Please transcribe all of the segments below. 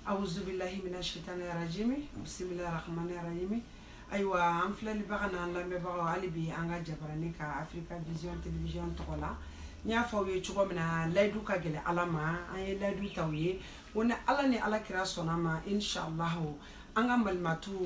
awuzubilahi mina shitani rajimi bisimilahi rahmani rahimi ayiwa an filɛlibaga n'an lamɛnbagaw hali bi an ka jabarani kan afirika vision television tɔgɔ la n y'a fɔ aw ye cogo min na layidu ka gɛlɛn ala ma an ye layidu ta aw ye ko ni ala ni ala kira sɔnna a ma inshallahu an ka malimatu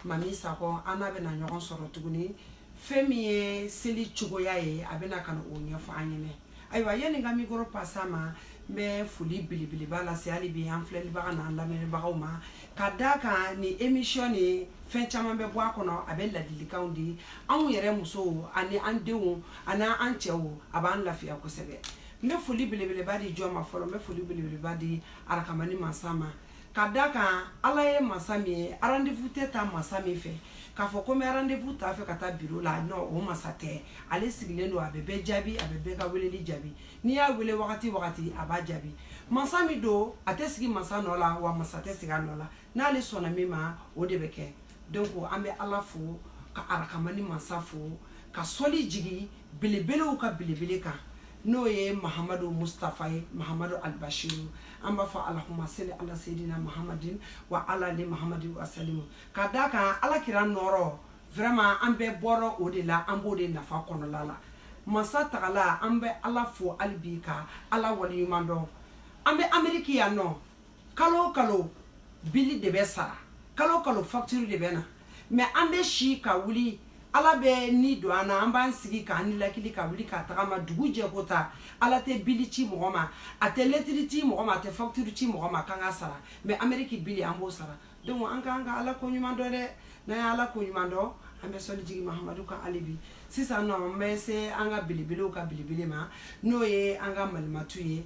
mami sakɔ an n'a bɛna ɲɔgɔn sɔrɔ tuguni fɛn min ye seli cogoya ye a bɛna ka na o ɲɛfɔ an ɲɛna ayiwa yanni n ka mikoro pase a ma n bɛ foli belebeleba lase hali bi an filɛlibaga n'an lamɛnbagaw ma ka da kan nin emisiyɔn nin fɛn caman bɛ bɔ a kɔnɔ a bɛ ladilikanw di anw yɛrɛ musow ani an denw ani an cɛw a b'an lafiya kosɛbɛ n bɛ foli belebeleba di jɔn ma fɔlɔ n bɛ foli belebeleba di arakamani mansa ma ka da kan ala ye masa min ye rendez-vous tɛ ta masa min fɛ k'a fɔ ko n bɛ rendez-vous ta a fɛ ka taa biro la non o masa tɛ ale sigilen don a bɛ bɛɛ jaabi a bɛ bɛɛ ka weleli jaabi n'i y'a wele wagati wagati a b'a jaabi masa min don a tɛ sigi masa nɔ la wa masa tɛ sigi a nɔ la n'ale sɔnna min ma o de bɛ kɛ donc an bɛ ala fo ka arakamani masa fo ka sɔli jigin belebelew ka belebele kan n'o ye mahamadu mustafa ye mahamadu albashiru an b'a fɔ alahuma seli ala seyidina mahamadin wa ala ali mahamadin wasalimu ka da kan ala kira nɔrɔ vraiment an bɛɛ bɔra o de la an b'o de nafa kɔnɔla la masa tagala an bɛ ala fo hali bi ka ala waleɲuman dɔn an bɛ ameriki yan nɔ kalo o kalo bili de bɛ sara kalo o kalo facture de bɛ na mais an bɛ si ka wuli ala bɛ ni don an na an b'an sigi k'an nilakili ka wuli ka tagama dugu jɛko ta ala tɛ bili ci mɔgɔ ma a tɛ lɛtiri ci mɔgɔ ma a tɛ facture ci mɔgɔ ma k'an ka sara mais ameriki bili an b'o sara donc an k'an ka ala ko ɲuman dɔn dɛ n'an ye ala ko ɲuman dɔn an bɛ sɔli jigin mahamadu kan hali bi sisan nɔ an bɛ se an ka belebelew ka belebele ma n'o ye an ka malimatu ye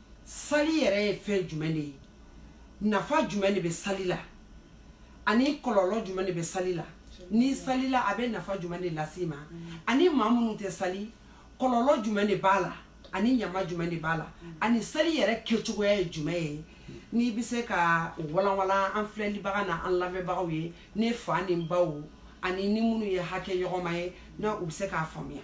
sali yɛrɛ ye fɛn jumɛn de ye nafa jumɛn de bɛ sali la ani kɔlɔlɔ jumɛn de bɛ sali la n'i salila a bɛ nafa jumɛn de lase i ma ani maa minnu tɛ sali kɔlɔlɔ jumɛn de b'a la ani ɲama jumɛn de b'a la ani sali yɛrɛ kɛcogoya ye jumɛn ye n'i bɛ se k'o walanwalan an filɛlibaga na an lamɛnbagaw ye ne fa ni n baw ani n ni minnu ye hakɛ ɲɔgɔnma ye na u bɛ se k'a faamuya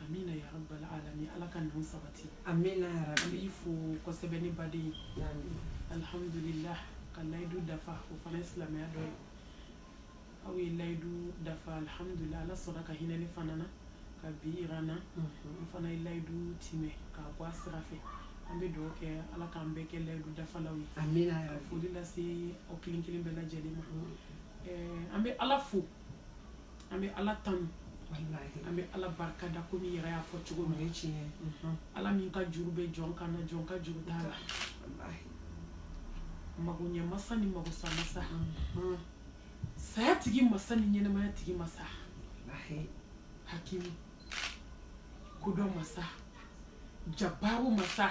amina ya rabbal alamin ala ka ninnu sabati amina ya rabbi an b'i fo kosɛbɛ ne baden ye alhamdulillah ka layidu dafa o fana ye silamɛya dɔ ye aw ye layidu dafa alhamdulillah ala sɔnna ka hinɛ ne fana na ka bi yira n na n fana ye layidu timɛ k'a bɔ a sira fɛ an bɛ dugawu kɛ ala k'an bɛɛ kɛ layidu dafalaw ye amina ya rabbi ka foli lase aw kelen kelen bɛɛ lajɛlen ma Ɛɛ, an bɛ ala fo an bɛ ala tanu an bɛ ala barika da komi i yɛrɛ y'a fɔ cogo min ye tiɲɛ mhm. ala min ka juru bɛ jɔn kan na jɔn ka juru t'a la mago ɲɛ masa ni mago sa masa mhm. saya tigi masa ni ɲɛnɛmaya tigi masa hakimu kodɔn masa jabaru masa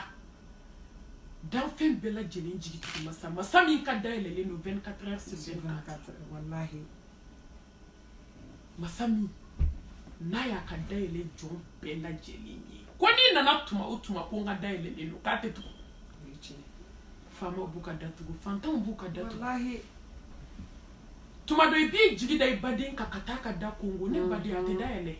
danfɛn bɛɛ lajɛlen jigitigi masa masa min ka da yɛlɛlen don 24 heures sur 24 walahi masa min n'a y'a ka da yɛlɛ jɔn bɛɛ lajɛlen ye ko n'i nana tuma o tuma ko n ka da yɛlɛlen don k'a tɛ tugu faamaw b'u ka da tugu fantanw b'u ka da tugu tuma dɔ i b'i jigi da i baden kan ka taa ka da konkon ne baden a tɛ da yɛlɛ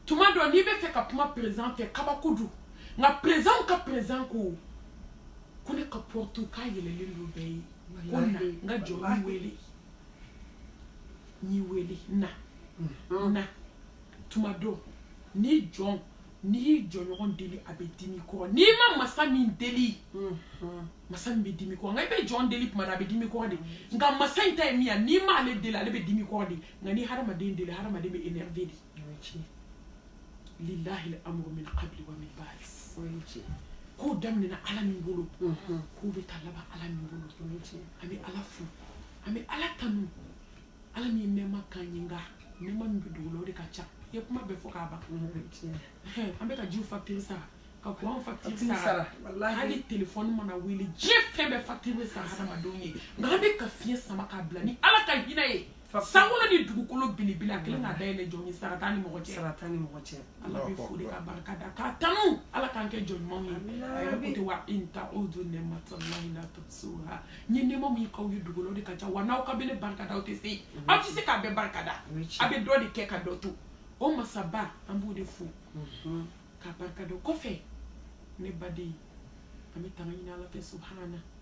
tuma dɔ n'i bɛ fɛ ka kuma président fɛ kabako don nka présidentw ka président ko ko ne ka porte k'a yɛlɛlen don bɛɛ ye ko na n ka jɔn n wele n y'i wele na mm-hmm. na tuma dɔ n'i jɔn n'i y'i jɔnɲɔgɔn deli a bɛ dimi kɔrɔ n'i ma masa min deli mm-hmm. masa min bɛ dimi kɔrɔ nka i bɛ jɔn deli tuma dɔ a bɛ dimi kɔrɔ de nka masa in ta ye min ye n'i m'ale deli ale bɛ dimi kɔrɔ de nka n'i hadamaden deli hadamaden bɛ énervé de lillahi al-amru min qabli wa min ba'd k'o daminɛna ala min bolo mhm. k'o bɛ taa laban ala min bolo an bɛ ala fo an bɛ ala tanu ala min ye nɛɛma k'an ye nka nɛɛma min bɛ dogo la o de ka ca i ye kuma bɛɛ fɔ k'a ban an bɛ ka ji facture sara ka kuran facture sara hali telefɔni mana wele diɲɛ fɛn bɛɛ facture bɛ sara hadamadenw ye nka an bɛ ka fiɲɛ sama k'a bila ni ala ka hinɛ ye sankolo ni dugukolo belebele a kelen k'a da yɛlɛ jɔn ye sara t'a ni mɔgɔ cɛ sara t'a ni mɔgɔ cɛ ala bɛ fo de k'a barika da k'a tanu ala k'an kɛ jɔn ɲumanw ye a yɛrɛ ko ten wa in ta'udu ni'matallahi la tuhsuha n ye nɛɛma min k'aw ye dogo la o de ka ca wa n'aw k'aw bɛ ne barika da aw tɛ se aw tɛ se k'a bɛɛ barika da a bɛ dɔ de kɛ ka dɔ to o masaba an b'o de fo k'a barika da o kɔfɛ ne baden an bɛ tanga ɲini ala fɛ subahana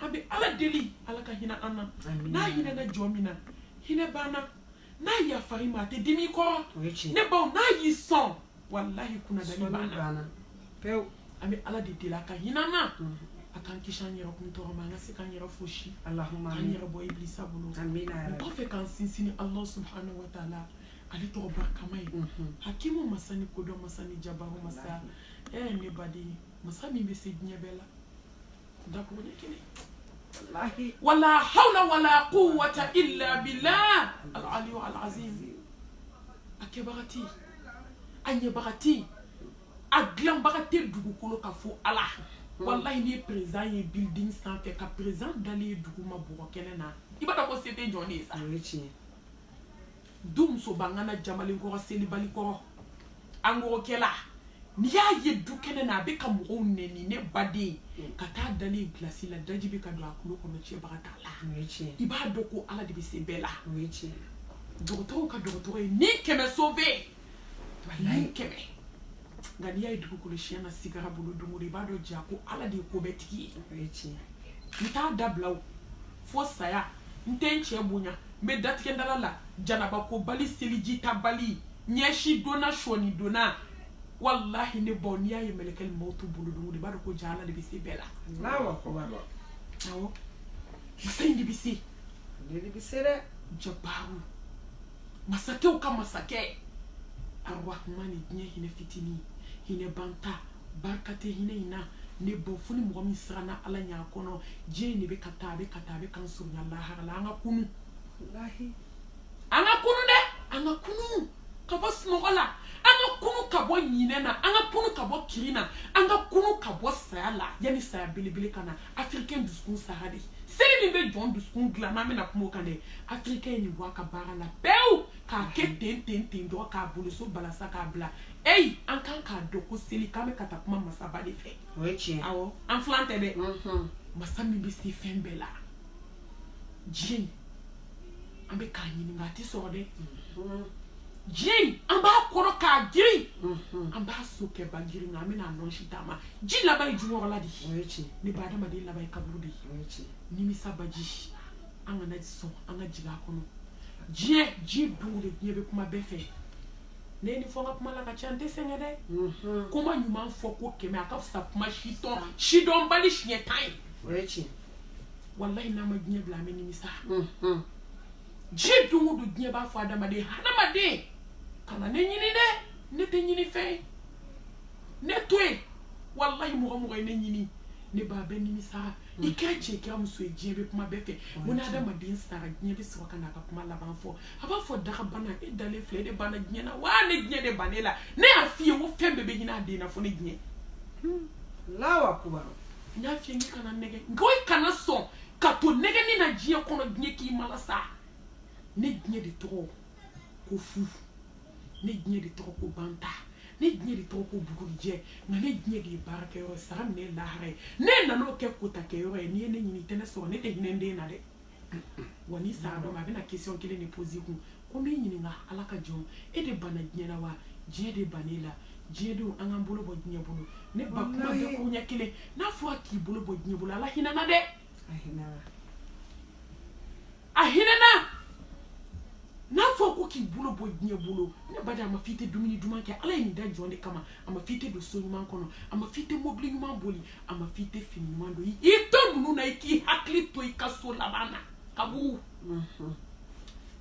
an bɛ ala deli ala ka hinɛ an na n'a hinɛna jɔn min na hinɛ banna n'a yafara i ma a tɛ dimi kɔrɔ ne baw n'a y'i sɔn walahi kunnadali banna pewu an bɛ ala de deli a ka hinɛ an na mhm. a k'an kisi an yɛrɛ kun tɔɔrɔ ma an ka se k'an yɛrɛ fosi k'an yɛrɛ bɔ ibilisa bolo o kɔfɛ k'an sinsin ni ala subhanahu wa taala ale tɔgɔ barikama ye mhm. hakimu masa ni kodɔn masa ni jabaru masa ɛ eh, ne baden masa min bɛ se diɲɛ bɛɛ la dakuruɲɛ kelen wala hawla wala quwwata illa billah al aliyu al azim a kɛbaga tɛ yen a ɲɛbaga tɛ yen a dilanbaga tɛ dugukolo kan fo ala walayi ni perezidan ye building sanfɛ ka perezidan dalen ye dugu ma bɔgɔ kɛnɛ na i b'a dɔn ko se tɛ jɔn de ye sa du musobangana jamalen kɔrɔ selibali kɔrɔ angorokɛla n'i y'a ye du kɛnɛ na a bɛ ka mɔgɔw nɛni ne baden ka taa a dalen ye gilasi la daji bɛ ka don a kulo kɔnɔ cɛbaga t'a la i b'a dɔn ko ala de bɛ se bɛɛ la dɔgɔtɔrɔw ka dɔgɔtɔrɔ ye ni kɛmɛ sauvé ni kɛmɛ nka n'i y'a ye dugukolo siɲɛ na sigara bolo don o don i b'a dɔn ja ko ala de ye ko bɛɛ tigi ye o ye tiɲɛ ye n t'a dabila o fo saya n tɛ n cɛ bonya n bɛ datigɛdala la janabakobali selijitabali ɲɛsi donna sɔnin donna walahi ne baw n'i y'a ye mɛlɛkɛli mawutu bolo don o don i b'a dɔn ko ja ala de bɛ se bɛɛ la Allahu akbar. awɔ masa in de bɛ se Ale de bɛ se dɛ. jabaru masakɛw ka masakɛ arrahmani diɲɛ hinɛ fitinin hinɛ banta barika tɛ hinɛ in na ne baw fo ni mɔgɔ min siranna ala ɲɛ a kɔnɔ diɲɛ in de bɛ ka taa a bɛ ka taa a bɛ k'an surunya lahara la an ka kunu an ka kunu dɛ an ka kunu ka bɔ sunɔgɔ la an ka kunu ka bɔ ɲinɛ na an ka kunu ka bɔ kirin na an ka kunu ka bɔ saya la yanni saya belebele ka na afirikɛn dusukun sara dɛ seli min bɛ jɔn dusukun dilan n'an bɛna kuma o kan dɛ afirikɛn ye nin bɔ a ka baara la pewu k'a kɛ ten ten ten dɔrɔn k'a boloso balasa k'a bila eyi an ka kan k'a dɔn ko seli k'an bɛ ka taa kuma masaba de fɛ o ye tiɲɛ awɔ an filan tɛ dɛ masa min bɛ se fɛn bɛɛ la diɲɛ an bɛ k'a ɲininka a tɛ sɔrɔ dɛ mm-hmm. diɲɛ in an b'a kɔrɔ k'a girin mm-hmm. an b'a sokɛba girin nka an bɛna nɔnsi taama ji laban ye jukɔrɔla de ye ne ba adamaden laban ye kaburu de ye nimisa baji an kana sɔn an ka jigin a kɔnɔ diɲɛ ji dugu de diɲɛ bɛ kuma bɛɛ fɛ ne ni fɔ n ka kuma la ka ca n tɛ sɛgɛn dɛ mm-hmm. kuma ɲuman fɔ ko kɛmɛ a ka fisa kuma sidɔn sidɔnbali siɲɛ tan ye walayi n'an ma diɲɛ bila an bɛ nimisa diɲɛ don o don diɲɛ b'a fɔ adamaden adamaden kana ne ɲini dɛ ne tɛ ɲini fɛn ye ne to yen walayi mɔgɔ o mɔgɔ ye ne ɲini ne ba a bɛ nimisa i kɛra cɛ i kɛra muso ye diɲɛ bɛ kuma bɛɛ fɛ ko ni adamaden sara diɲɛ bɛ sɔrɔ ka na a ka kuma laban fɔ a b'a fɔ dagabana e dalen filɛ e de banna diɲɛ na wa ne diɲɛ de banna e la ne y'a f'i ye ko fɛn bɛɛ bɛ ɲini a dan na fo ne diɲɛ allahu akbar n y'a f'i ye n k'i kana nɛgɛ nka i kana sɔn ka to nɛgɛni na diɲɛ kɔnɔ diɲɛ k'i malasa ne diɲɛ de tɔgɔ ko fu ne diɲɛ de tɔgɔ ko banta ne diɲɛ de tɔgɔ ko bugurijɛ nka ne diɲɛ de ye baarakɛyɔrɔ ye sara minɛ lahara ye ne nan'o kɛ kotakɛyɔrɔ ye n'i ye ne ɲini i tɛ ne sɔrɔ ne tɛ hinɛ n den na dɛ wa n'i sa dɔ ma a bɛna question kelen de poser kun ko n b'i ɲininka ala ka jɔn e de banna diɲɛ la wa diɲɛ de banna e la diɲɛ denw an k'an bolo bɔ diɲɛ bolo ne ba kuma bɛɛ ko ɲɛ kelen n'a fɔra k'i bolo bɔ diɲɛ bolo ala hinɛ na dɛ a hinɛ na n'a fɔ ko k'i bolo bɔ diɲɛ bolo ne ba de a ma f'i tɛ dumuni duman kɛ ala ye nin da jɔn de kama a ma f'i tɛ don so ɲuman kɔnɔ a ma f'i tɛ mobili ɲuman boli a ma f'i tɛ fini ɲuman don i to ninnu na i k'i hakili to i ka so laban na kaburu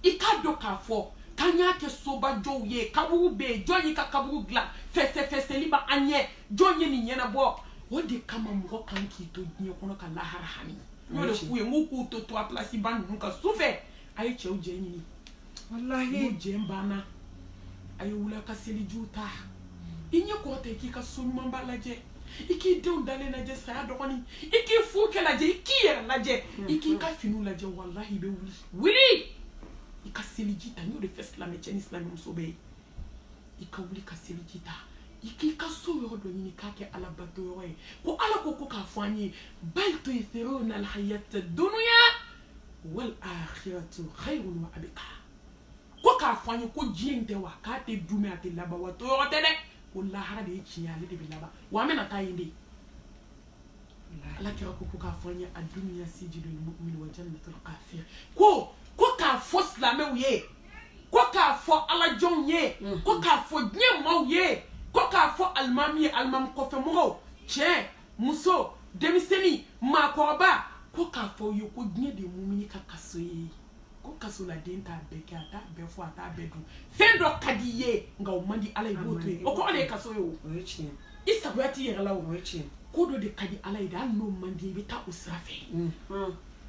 i k'a dɔn k'a fɔ k'an y'a kɛ sobajɔw ye kaburu bɛ yen jɔn y'i ka kaburu dilan fɛsɛfɛsɛli bɛ an ɲɛ jɔn ye nin ɲɛnabɔ o de kama mɔgɔ kan k'i to diɲɛ kɔnɔ ka lahara hami n y'o de f'u ye n k'u k'u to trois places ba ninnu kan su fɛ a ye cɛw jɛ ɲini walahi n'u jɛ banna a ye wuli a ka selijiw ta i ɲɛ kɔrɔta i k'i ka so ɲumanba lajɛ i k'i denw dalen lajɛ saya dɔgɔnin i k'i furukɛ lajɛ i k'i yɛrɛ lajɛ i k'i ka finiw lajɛ walahi i bɛ wuli wuli i ka seliji ta n y'o de fɔ silamɛ cɛ ni silamɛ muso bɛɛ ye i ka wuli ka seliji ta i k'i ka so yɔrɔ dɔ ɲini k'a kɛ ala bato yɔrɔ ye ko ala ko ko k'a fɔ an ye bal tu'thiruna alhayata dunya wal akhiratu khayrun wa abqa ko k'a fɔ an ye ko diɲɛ in tɛ wa k'a tɛ dumɛ a tɛ laban wa toyɔrɔ tɛ dɛ ko lahara de ye tiɲɛ ale de bɛ laban wa an bɛna taa yen de ala kira ko ko k'a fɔ an ye ad-dunya sijnul mu'min wa jannatul kafir ko ko k'a fɔ silamɛw ye ko k'a fɔ alajɔnw ye ko k'a fɔ diɲɛ maaw ye ko k'a fɔ alimami ye alimami kɔfɛmɔgɔw cɛ muso denmisɛnnin maakɔrɔba ko k'a fɔ u ye ko diɲɛ de ye mumini ka kaso ye ko kasoladen t'a bɛɛ kɛ a t'a bɛɛ fɔ a t'a bɛɛ dun fɛn dɔ ka di i ye nka o man di ala ye i b'o to yen o kɔrɔ de ye kaso ye o i sagoya t'i yɛrɛ la o ko dɔ de ka di ala ye de hali n'o man di i bɛ taa o sira fɛ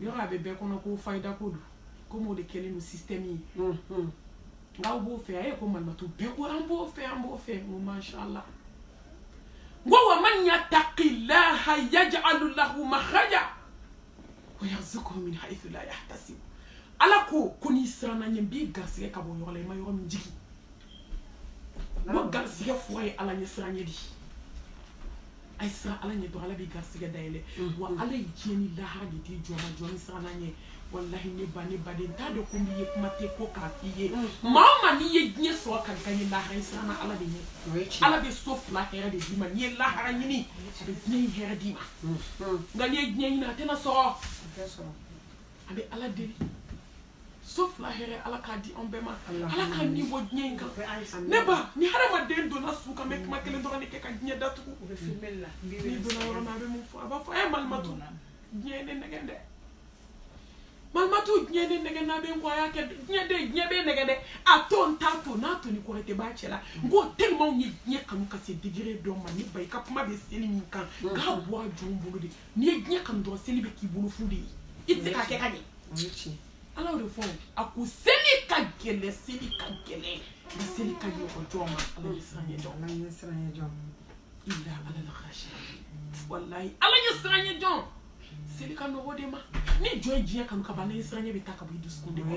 yɔrɔ a bɛ bɛɛ kɔnɔ ko fayida ko don komi o de kɛlen don système ye n k'aw b'o fɛ a ye ko malimatu bɛɛ ko an b'o fɛ an b'o fɛ n ko mashallah n ko wa man yattaqillaha yaj'alu lahu makhraja wa yarzuquhu min haythu la yahtasib ala ko ko n'i siranna n ɲɛ n b'i garisigɛ ka bɔ yɔrɔ la i ma yɔrɔ min jigi n ko garisigɛ fura ye ala ɲɛ siran ɲɛ de ye a ye siran ala ɲɛ dɔrɔn ala b'i garisɛgɛ dayɛlɛ wa ala ye diɲɛ ni lahara de di jɔn ma jɔn min siranna a ɲɛ walahi ne ba ne baden t'a dɔn ko n'i ye kuma tɛ ko k'a f'i ye maa o maa n'i ye diɲɛ sɔrɔ ka gaɲɛ lahara i siranna ala de ɲɛ ala bɛ so fila hɛrɛ de d'i ma n'i ye lahara ɲini a bɛ diɲɛ in hɛrɛ d'i ma nka n'i ye diɲɛ ɲini a tɛna sɔrɔ an bɛ ala deli so fila hɛrɛ ala k'a di an bɛɛ ma ala k'a ni bɔ diɲɛ in kan ne ba ni hadamaden donna su kan bɛ kuma kelen dɔrɔn de kɛ ka diɲɛ datugu n'i donna yɔrɔ min a bɛ mun fɔ a b'a fɔ ɛ malimatu diɲɛ ye ne nɛgɛn dɛ malimatu diɲɛ ne nɛgɛn n'a bɛ n kɔ a y'a kɛ diɲɛ de diɲɛ bɛ nɛgɛn dɛ a to n t'a to n'a to ni kɔrɔtɛ b'a cɛ la n ko tellement i ye diɲɛ kanu ka se degré dɔ ma ne ba i ka kuma bɛ seli min kan k'a bɔ a jɔn bolo de n'i ye diɲɛ kanu dɔrɔn seli bɛ k'i bolo fu de ye i tɛ se k'a kɛ ka ɲɛ ala y'o de fɔ a ko seli ka gɛlɛn seli ka gɛlɛn nka seli ka nɔgɔ jɔn ma ala ɲɛ siranɲɛ jɔn ala ɲɛ siranɲɛ jɔn illa alal khashiin walayi ala ɲɛ siranɲɛ jɔn seli ka nɔgɔ o de ma ni jɔn ye diɲɛ kanu ka ban ala ɲɛ siranɲɛ bɛ taa ka bɔ i dusukun de ma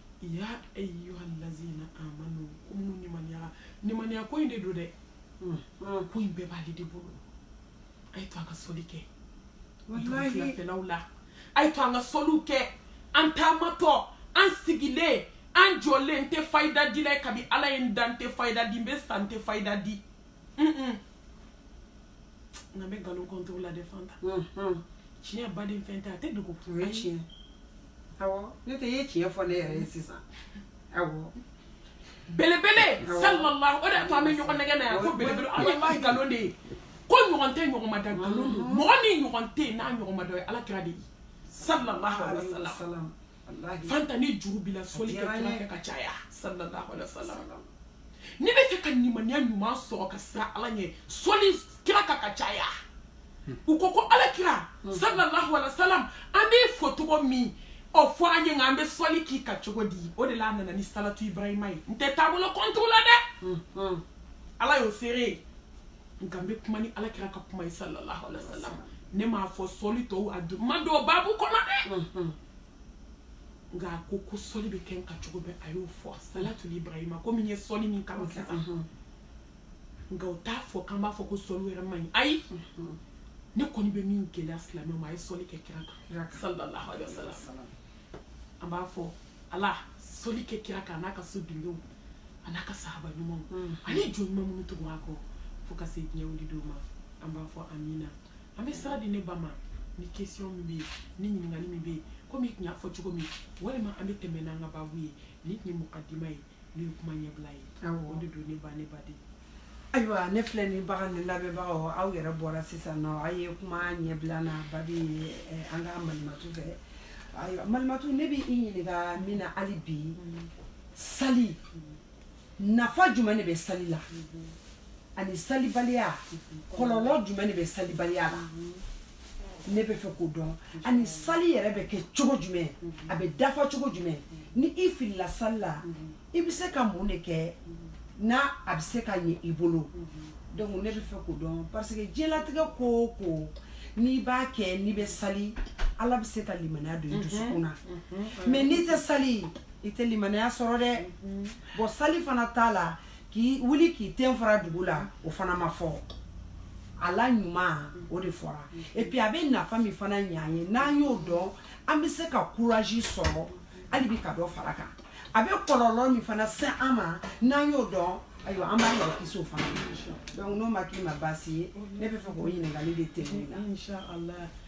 ya ayyuhal lazina amanu ko minnu nimaniya nimaniya ko in de don dɛ hmm. hmm. ko in bɛɛ b'ale de bolo a y'a to an ka soli kɛ wulafɛlaw la a y'a to an ka soliw kɛ an taamatɔ an sigilen an jɔlen n tɛ fayida dila ye kabi ala ye n da n tɛ fayida di n bɛ sa n tɛ fayida di nka n bɛ nkalon contre la dɛ fanta tiɲɛ baden fɛn tɛ a tɛ dogo o ye tiɲɛ awɔ ne de ye tiɲɛ fɔ ne yɛrɛ ye sisan awɔ belebele sallallahu o de y'a to an bɛ ɲɔgɔn nɛgɛn na yan ko belebele aw ye maa nkalon de ye ko ɲɔgɔn tɛ ɲɔgɔn ma da nkalon don mm-hmm. mɔgɔ min ɲɔgɔn tɛ yen n'a ɲɔgɔn ma da o ye ala kira de ye sallallahu alaihi wa sallam fanta ni juru b'i la soli kɛ kira kan ka caya sallallahu alaihi wa sallam n'i b'a fɛ ka limaniya ɲuman sɔrɔ ka siran ala ɲɛ soli kira kan ka caya u ko ko alakira sallallahu alaihi wasallam an b'i fo cogo min i y'o fɔ an ye nka an bɛ sɔli k'i kan cogo di o de la a nana ni salatu ibrahima ye n tɛ taabolo contre la dɛ mm-hmm. ala y'o seere ye nka n bɛ kuma ni alakira ka kuma ye sallallahu alaihi wasallam ne m'a fɔ sɔli tɔw a ma don babu kɔnɔ dɛ mm-hmm. nka a ko ko sɔli bɛ kɛ n kan cogo bɛɛ a y'o fɔ salatu ibrahima komi n ye sɔli min kalan sisan mm-hmm. nka o t'a fɔ k'an b'a fɔ ko sɔli wɛrɛ man ɲi ayi ne kɔni bɛ min gɛlɛya silamɛw ma a ye sɔli kɛ kira kan sallallahu alaihi wasallam an b'a fɔ ala sɔli kɛ kira kan n'a ka so dudenw an'a ka sahaba ɲumanw mm-hmm. ani jɔn ɲuman minnu tugu a kɔ fo ka se diɲɛ wuli don ma an b'a fɔ amina an bɛ sira di ne ba ma ni question min bɛ yen ni ɲininkali min bɛ yen komi i tun y'a fɔ cogo min walima an bɛ tɛmɛ n'an ka baabu ye ni tun ye mɔgɔ dima ye n'o ye kuma ɲɛbila ye o de don ne ba ne ba de ayiwa ne filɛlibagaw ni lamɛnbagaw aw yɛrɛ bɔra sisan nɔ aw ye kuma ɲɛbila lamɛn bi eh, an ka malimatu fɛ ayiwa malimatu ne bɛ i ɲininka min na hali bi mm. sali mm. nafa jumɛn de bɛ sali la mm-hmm. ani salibaliya mm-hmm. kɔlɔlɔ jumɛn de bɛ salibaliya la mm-hmm. ne bɛ fɛ k'o dɔn ani sali yɛrɛ bɛ kɛ cogo jumɛn a bɛ dafa cogo jumɛn ni i filila sali la i bɛ se ka mun de kɛ n'a a bɛ se ka ɲɛ i bolo donc ne bɛ fɛ k'o dɔn parce que diɲɛlatigɛ ko o ko n'i b'a kɛ n'i bɛ sali ala bɛ se ka limaniya don i dusukun na mais n'i tɛ sali i tɛ limaniya sɔrɔ dɛ bon sali fana t'a la k'i wuli k'i ten fara dugu la o fana ma fɔ a la ɲuman o de fɔra et puis a bɛ nafa min fana ɲɛ an ye n'an y'o dɔn an bɛ se ka courage sɔrɔ hali bi ka dɔ fara kan a bɛ kɔlɔlɔ min fana se an ma n'an y'o dɔn ayiwa an b'an yɛrɛ kisi o fana ma donc n'o ma k'i ma baasi ye ne bɛ fɛ k'o ɲininkali de tɛmɛ i la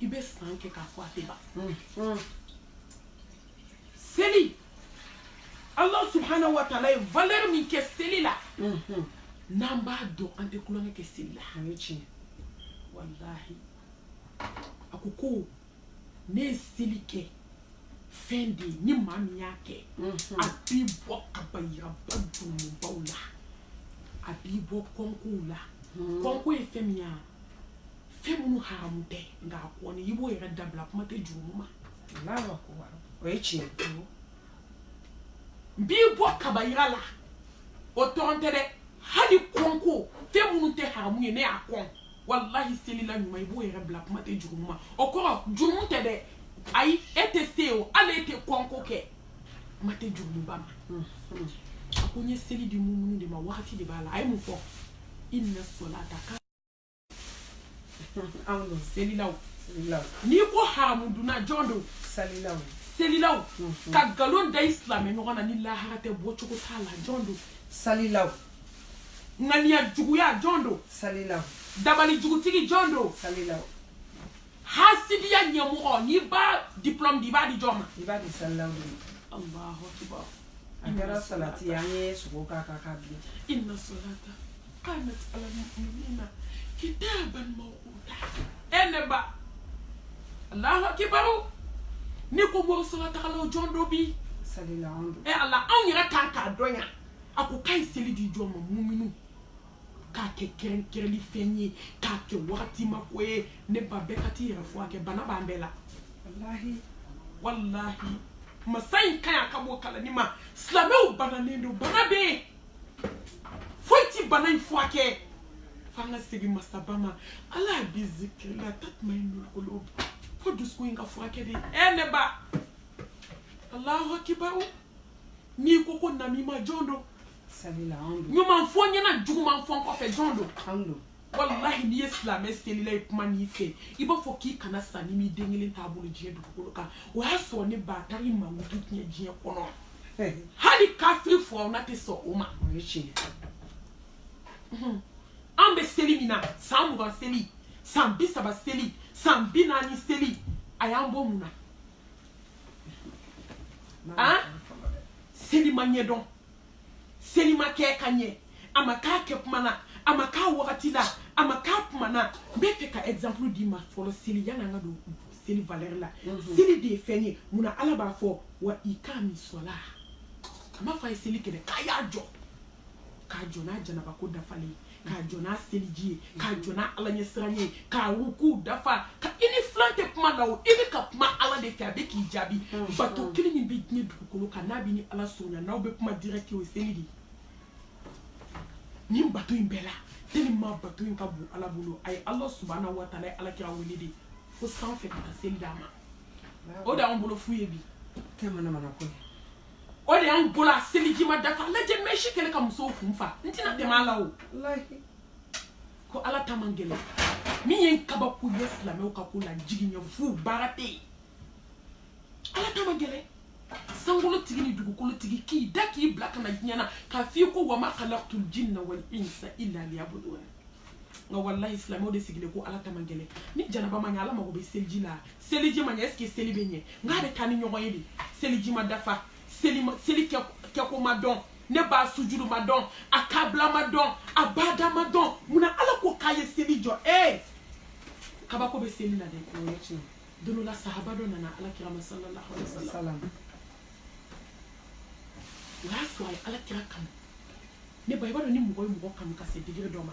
i bɛ san kɛ k'a fɔ a tɛ ban mm. seli ala subahana wa taala ye valeur min kɛ seli la mm-hmm. n'an b'a dɔn an tɛ tulonkɛ kɛ seli la walahi a ko ko ne ye seli kɛ fɛn de ye ni maa min y'a kɛ mm-hmm. a b'i bɔ kabayiraba jurumubaw la a b'i bɔ kɔnkow la mm-hmm. kɔnko ye fɛn min ye fɛn minnu haramu tɛ nka a kɔni i b'o yɛrɛ dabila kuma tɛ jurumu ma allahu akubar o ye tiɲɛ ye n b'i bɔ kabayira la o dɔrɔn tɛ dɛ hali kɔnko fɛn minnu tɛ haramu ye ne y'a kɔn walahi selila ɲuman i b'o yɛrɛ bila kuma tɛ jurumu ma o kɔrɔ jurumu tɛ dɛ ayi e tɛ se o hali e tɛ kɔnko kɛ kuma tɛ jurumuba ma a ko n ye seli di muminu de ma wagati de b'a la a ye mun fɔ inna salata ka anw don selilaw n'i ko haramu dunna jɔn don selilaw selilaw mhm. ka nkalon da i silamɛ ɲɔgɔn na ni lahara tɛ bɔcogo t'a la jɔn don selilaw ŋaniya juguya jɔn don selilaw dabali jugutigi jɔn don selilaw hasidiya ɲɛmɔgɔ n'i b'a diplôme di i b'a di jɔn ma i b'a di salilaw de ma alahu akibar a kɛra salati ye an ye sogo k'a kan k'a bilen inna salata kanat ala muminina kitaban mawquta e ne ba alahu akibaru n'i ko mɔgɔ solatagalaw jɔn don bi salilaw don e ala anw yɛrɛ kan k'a dɔn yan a ko k'a ye seli di jɔn ma muminu k'a kɛ kɛrɛnkɛrɛnli fɛn ye k'a kɛ wagati ma ko ye ne ba bɛɛ ka t'i yɛrɛ furakɛ bana b'an bɛɛ la walahi walahi masa in ka ɲi ka bɔ kalanni ma silamɛw bananen don bana bɛ yen foyi ti bana in furakɛ f'an ka segin masaba ma ala bi zikrillah tatmainnul qulub fo dusukun in ka furakɛ de ɛ eh, ne ba alahu akibaru n'i ko ko namima jɔn don ɲuman fɔ ɲɛna juguman fɔ kɔfɛ jɔn don walahi n'i ye silamɛ selila ye kuma n'i fɛ i b'a fɔ k'i kana sa n'i m'i den kelen t'a bolo diɲɛ dugukolo kan o y'a sɔrɔ ne ba taara i mankutu tiɲɛ diɲɛ kɔnɔ hali kafiri furauna tɛ sɔn o ma an bɛ seli min na san mugan seli san bi saba seli san bi naani seli a y'an bɔ mun na seli ma ɲɛdɔn seli ma kɛ ka ɲɛ a ma k'a kɛtuma na a ma k'a wagati la a ma k'a tuma na n bɛ fɛ ka exemple d'i ma fɔlɔ seli yanni an ka don seli valeur la mhm. seli de ye fɛn ye munna ala b'a fɔ wa iqamis salah a m'a fɔ a ye seli kɛ dɛ k'a y'a jɔ k'a jɔ n'a janaba ko dafalen ye k'a jɔ n'a seliji ye k'a jɔ n'a ala ɲɛsiran ye k'a ruku dafa ka i n'i filan tɛ kuma la o i bɛ ka kuma ala de fɛ a bɛ k'i jaabi bato kelen min bɛ diɲɛ dugukolo kan n'a b'i ni ala surunya n'aw bɛ kuma direct o ye seli de ye nin bato in bɛɛ la tellement bato in ka bon ala bolo a ye ala subahana wa taala ye alakira wele de fo sanfɛ ka taa seli d'a ma o de y'anw bolo fu ye bi tɛ manamana ko ye o de y'an bolo a seliji ma dafa lajɛ mèche kɛlen ka musow kun fa n tɛna tɛmɛ a la o ko ala ta man gɛlɛn min ye n kabako ye silamɛw ka ko la jiginyɛ fu baara tɛ yen ala ta man gɛlɛn sankolotigi ni dugukolotigi k'i da k'i bila ka na diɲɛ na k'a f'i ko wa ma khalaqtul jinna wal insa illa liyabudun nka walahi silamɛw de sigilen ko ala ta man gɛlɛn ni janaba ma ɲɛ ala mago bɛ seliji la seliji ma ɲɛ est ce que seli bɛ ɲɛ nk'a bɛ taa ni ɲɔgɔn ye de seliji ma dafa seli ma seli kɛ kɛko ma dɔn ne ba sujudu ma dɔn a kabila ma dɔn a bada ma dɔn munna ala ko k'a ye seli jɔ ee kabako bɛ seli la dɛ o ye tiɲɛ don dɔ la sahaba dɔ nana ala kira ma sallallahu alaihi wa sallam o y'a sɔrɔ a ye ala kira kanu ne ba i b'a dɔn ni mɔgɔ ye mɔgɔ kanu ka se degré dɔ ma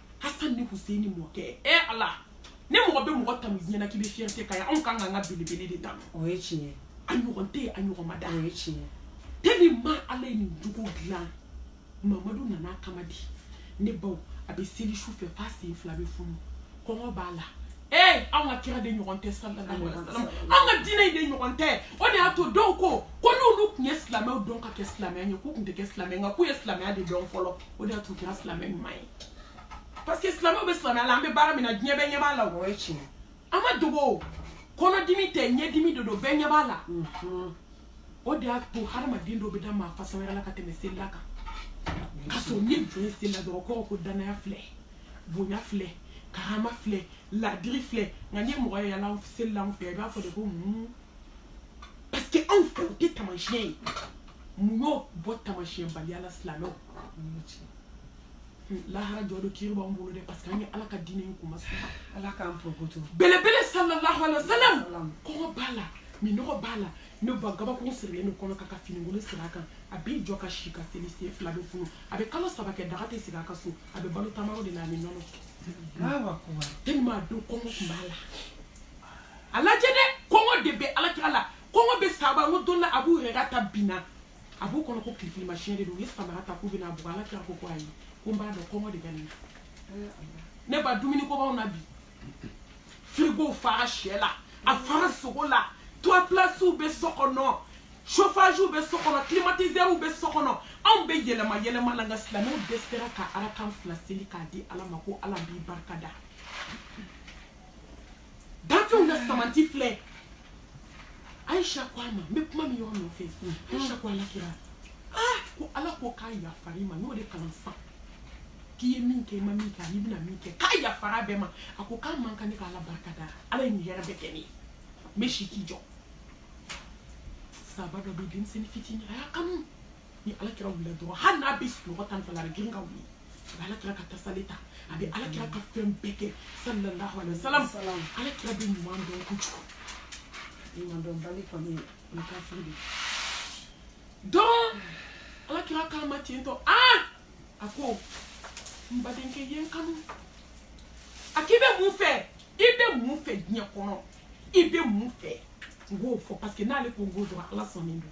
hasan ni huseini mɔkɛ e eh, ala ni mɔgɔ bɛ mɔgɔ tanu diɲɛ na k'i bɛ fierté k'a ye anw kan k'an ka belebele de tanu o ye tiɲɛ ye a ɲɔgɔn tɛ yen a ɲɔgɔn ma da o ye tiɲɛ ye tellement ala ye nin jogo dilan mamadu nana kama di ne baw a bɛ seli su fɛ f'a sen fila bɛ funu kɔngɔ b'a la ee anw ka kira de ɲɔgɔn tɛ sallallahu alaihi wasallam anw ka diinɛ in de ɲɔgɔn tɛ o de y'a to dɔw ko ko n'olu tun ye silamɛw dɔn ka kɛ silamɛya ɲɛ k'u tun tɛ kɛ silamɛ nka k'u ye silamɛya de dɔn fɔlɔ o de y'a to kɛra silamɛ ɲuman ye parce que silamɛw bɛ silamɛya la an bɛ baara min na diɲɛ bɛɛ ɲɛ b'a la o ye tiɲɛ a ma dogo kɔnɔdimi tɛ ɲɛdimi de don bɛɛ ɲɛ b'a la o de y'a to hadamaden dɔ bɛ da maa fasa wɛrɛ la ka tɛmɛ selila kan ka sɔrɔ n'i jɔ ye selila dɔrɔn kɔrɔ ko danaya filɛ bonya filɛ karama filɛ ladiri filɛ nka n'i ye mɔgɔ ye yala selila anw fɛ i b'a fɔ de ko mun parce que anw fɛ o tɛ taamasiyɛn ye mun y'o bɔ tamasiyɛnbaliya la silamɛw lahara jɔ don kiri b'an bolo dɛ parce que an ye ala ka diinɛ in kuma sa ala k'an porokoto belebele sallallahu alaihi wasallam kɔngɔ b'a la minɔgɔ b'a la ne ba gabakuru sirilen don kɔnɔ kan ka finikolon siri a kan a b'i jɔ ka si ka seli sen fila bɛ funu a bɛ kalo saba kɛ daga tɛ sigi a ka so a bɛ balo tamaro de la ani nɔnɔ tellement a don kɔngɔ tun b'a la a lajɛ dɛ kɔngɔ de bɛ alakira la kɔngɔ bɛ saba n ko dɔ la abu hurayra taa binna a b'u kɔnɔ ko kirikirimasiɲɛ de don u ye samara ta k'u bɛna a bugɔ ala kira ko ko ayi ko n b'a dɔn kɔngɔ de bɛ nin na ne ba dumuni ko b'anw na bi firigow fara shɛ la a fara sogo la trois places bɛ so kɔnɔ chauffage bɛ so kɔnɔ climatiseur bɛ so kɔnɔ anw bɛ yɛlɛma yɛlɛma la nka silamɛw dɛsɛra ka arakan fila seli k'a di ala ma ko ala b'i barika da Dafew na samanti filɛ Aisha ko a ma n bɛ kuma min yɔrɔ nɔfɛ Aisha ko alakira ah ko ala ko k'a yafara i ma n'o de kalan sisan k'i ye min kɛ i ma min kɛ ani i bɛna min kɛ k'a yafara bɛɛ ma a ko k'a man kan ne ka ala barika da ala ye nin hɛrɛ bɛɛ kɛ ne ye n bɛ si k'i jɔ saba dɔ bɛ denmisɛnnin fitinin a y'a kanu ni ala kira wulila dɔrɔn hali n'a bɛ sunɔgɔ tan fana a bɛ girin ka wuli a bɛ ala kira ka tasali ta a bɛ ala kira ka fɛn bɛɛ kɛ sallallahu alaihi wa sallam ala kira bɛ ɲuman dɔn kojugu ɲumandɔnbali kɔni o ye kafiri de don ala kira k'a ma ten tɔ aa a ko n badenkɛ ye n kanu a k'i bɛ mun fɛ i bɛ mun fɛ diɲɛ kɔnɔ i bɛ mun fɛ n k'o fɔ parce que n'ale ko n k'o dɔrɔn ala sɔnnen don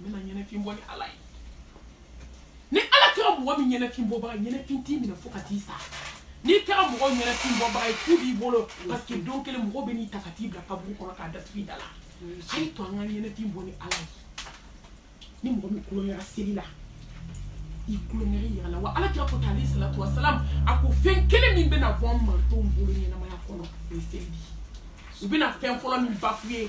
ne ma ɲɛnafin bɔ ni ala ye ni ala kɛra mɔgɔ min ɲɛnafin bɔbaga ɲɛnafin t'i minɛ fo ka t'i sa n'i kɛra mɔgɔ ɲɛnafin bɔbaga ye fu b'i bolo parce que don kelen mɔgɔ bɛn'i ta ka t'i bila kaburu kɔnɔ k'a datugu i da la a ye to an ka ɲɛnafin bɔ ni ala ye ni mɔgɔ min kolon kɛra seli la i kolon kɛra yɛrɛ la wa ala kira ko tan alaihi salatu wasalam a ko fɛn kelen min bɛna bɔ an mantonw bolo ɲɛnamaya kɔnɔ o ye seli de ye u bɛna fɛn fɔlɔ min bafu ye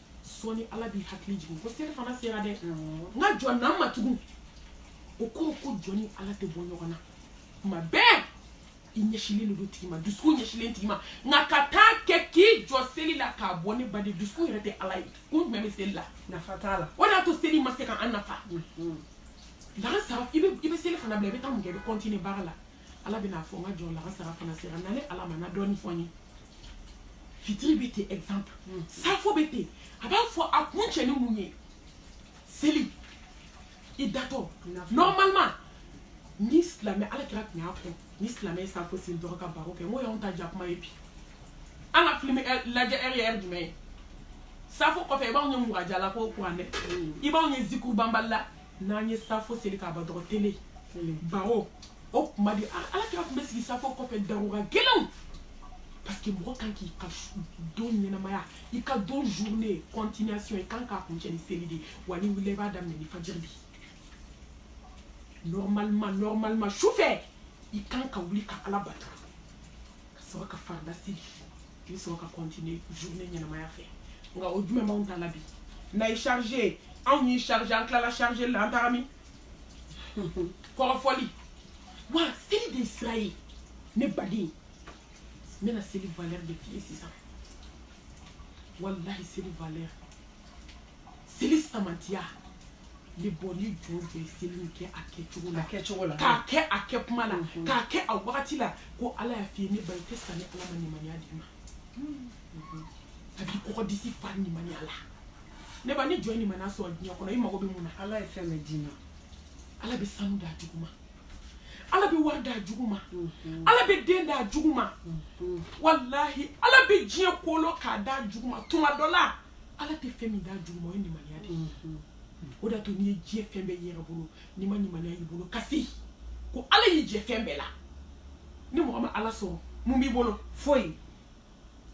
sɔɔni ala b'i hakili jigin ko selifana sera dɛ n ka jɔn na n ma tugun o kɔrɔ ko jɔn ni ala tɛ bɔ ɲɔgɔn na kuma bɛɛ i ɲɛsilen de don tigi ma dusukun ɲɛsilen tigi ma nka ka taa kɛ k'i jɔ seli la k'a bɔ ne baden dusukun yɛrɛ tɛ ala ye kun jumɛn bɛ seli la nafa t'a la o de y'a to seli ma se ka an nafa lagansara i bɛ selifana bila i bɛ taa mun kɛ i bɛ continuer baara la ala bɛna fɔ n ka jɔn lagansara fana sera na ne ala ma na dɔɔni fɔ n ye fitiri bɛ ten exemple hmm. safo bɛ ten a b'a fɔ a kuncɛ ni mun ye seli i datɔ normalement ni silamɛ ala kira tun y'a fɔ ni silamɛ ye safo seli dɔrɔn ka baro kɛ n ko y'anw ta jakuma ye bi an ka filime eh, lajɛ heure ye heure jumɛn ye safo kɔfɛ i b'anw ye murajaa la ko kuranɛ hmm. i b'anw ye zikuru banbali la n'an ye safo seli k'a ban dɔrɔn tele baro o tuma de ala kira tun bɛ sigi safo kɔfɛ darura gɛlɛnw parce que mɔgɔ kan k'i ka don ɲɛnamaya i ka don journée continuation i kan k'a kuncɛ ni seli de wa n'i wulila i b'a daminɛ ni fajiri de normalement normalement su fɛ i kan ka wuli ka ala bato ka sɔrɔ ka farida seli i bɛ sɔrɔ ka continuer journée ɲɛnamaya fɛ nka o jumɛn b'anw ta la bi n'a ye charge anw y'i charge an tilala charge la an taara min kɔrɔfɔli wa seli de sira ye ne baden n bɛna seli valeur de f'i ye sisan walahi seli valeur seli samantiya ne ba ni jɔn jɔn ye seli in kɛ a kɛcogo la k'a kɛ a kɛ kuma la k'a kɛ a wagati la ko ala y'a f'i ye ne ba i tɛ sa ni ala ma nimaniya d'i ma a b'i kɔgɔ disi fa nimaniya la ne ba ni jɔn ye nimaniya sɔrɔ diɲɛ kɔnɔ i mago bɛ mun na ala ye fɛn bɛɛ d'i ma ala bɛ sanu d'a jugu ma ala bɛ wari d'a jugu ma ala bɛ den d'a jugu ma walahi ala bɛ diɲɛ kolo k'a d'a jugu ma tuma dɔ la ala tɛ fɛn min d'a jugu ma o ye nimaniya de ye o de y'a to n'i ye diɲɛ fɛn bɛɛ y'i yɛrɛ bolo n'i ma nimaniya y'i bolo kasi ko ala y'i jɛ fɛn bɛɛ la ni mɔgɔ ma ala sɔrɔ mun b'i bolo foyi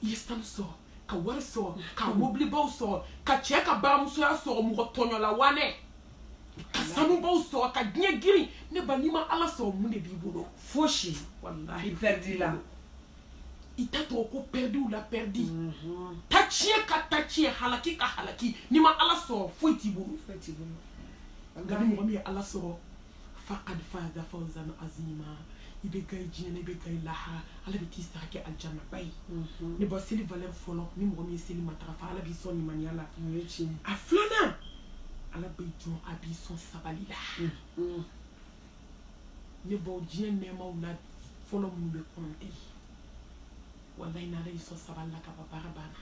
i ye sanu sɔrɔ ka wari sɔrɔ ka mobilibaw sɔrɔ ka cɛ ka baramusoya sɔrɔ mɔgɔ tɔɲɔla wanɛ ka sanubaw sɔrɔ ka diɲɛ girin ne ba n'i ma ala sɔrɔ mun de b'i bolo fosi walahi i pɛridila i ta tɔgɔ ko pɛridiw la pɛridi mhm. ta tiɲɛ ka ta tiɲɛ halaki ka halaki n'i ma ala sɔrɔ foyi t'i bolo nka ni mɔgɔ min ye ala sɔrɔ faqad faza fawzan azima i bɛ gagner diɲɛ na i bɛ gagner lahara ala bɛ t'i sara kɛ alijana ba ye mhm. ne ba seli valeur fɔlɔ ni mɔgɔ min ye seli matarafa ala b'i sɔn limaniya la a filanan ala bɛ jɔn a b'i sɔn sabali la mhm. ne baw diɲɛ nɛɛmaw la fɔlɔ minnu bɛ kɔnte walayi n'ala y'i sɔn sabali la ka ban baara banna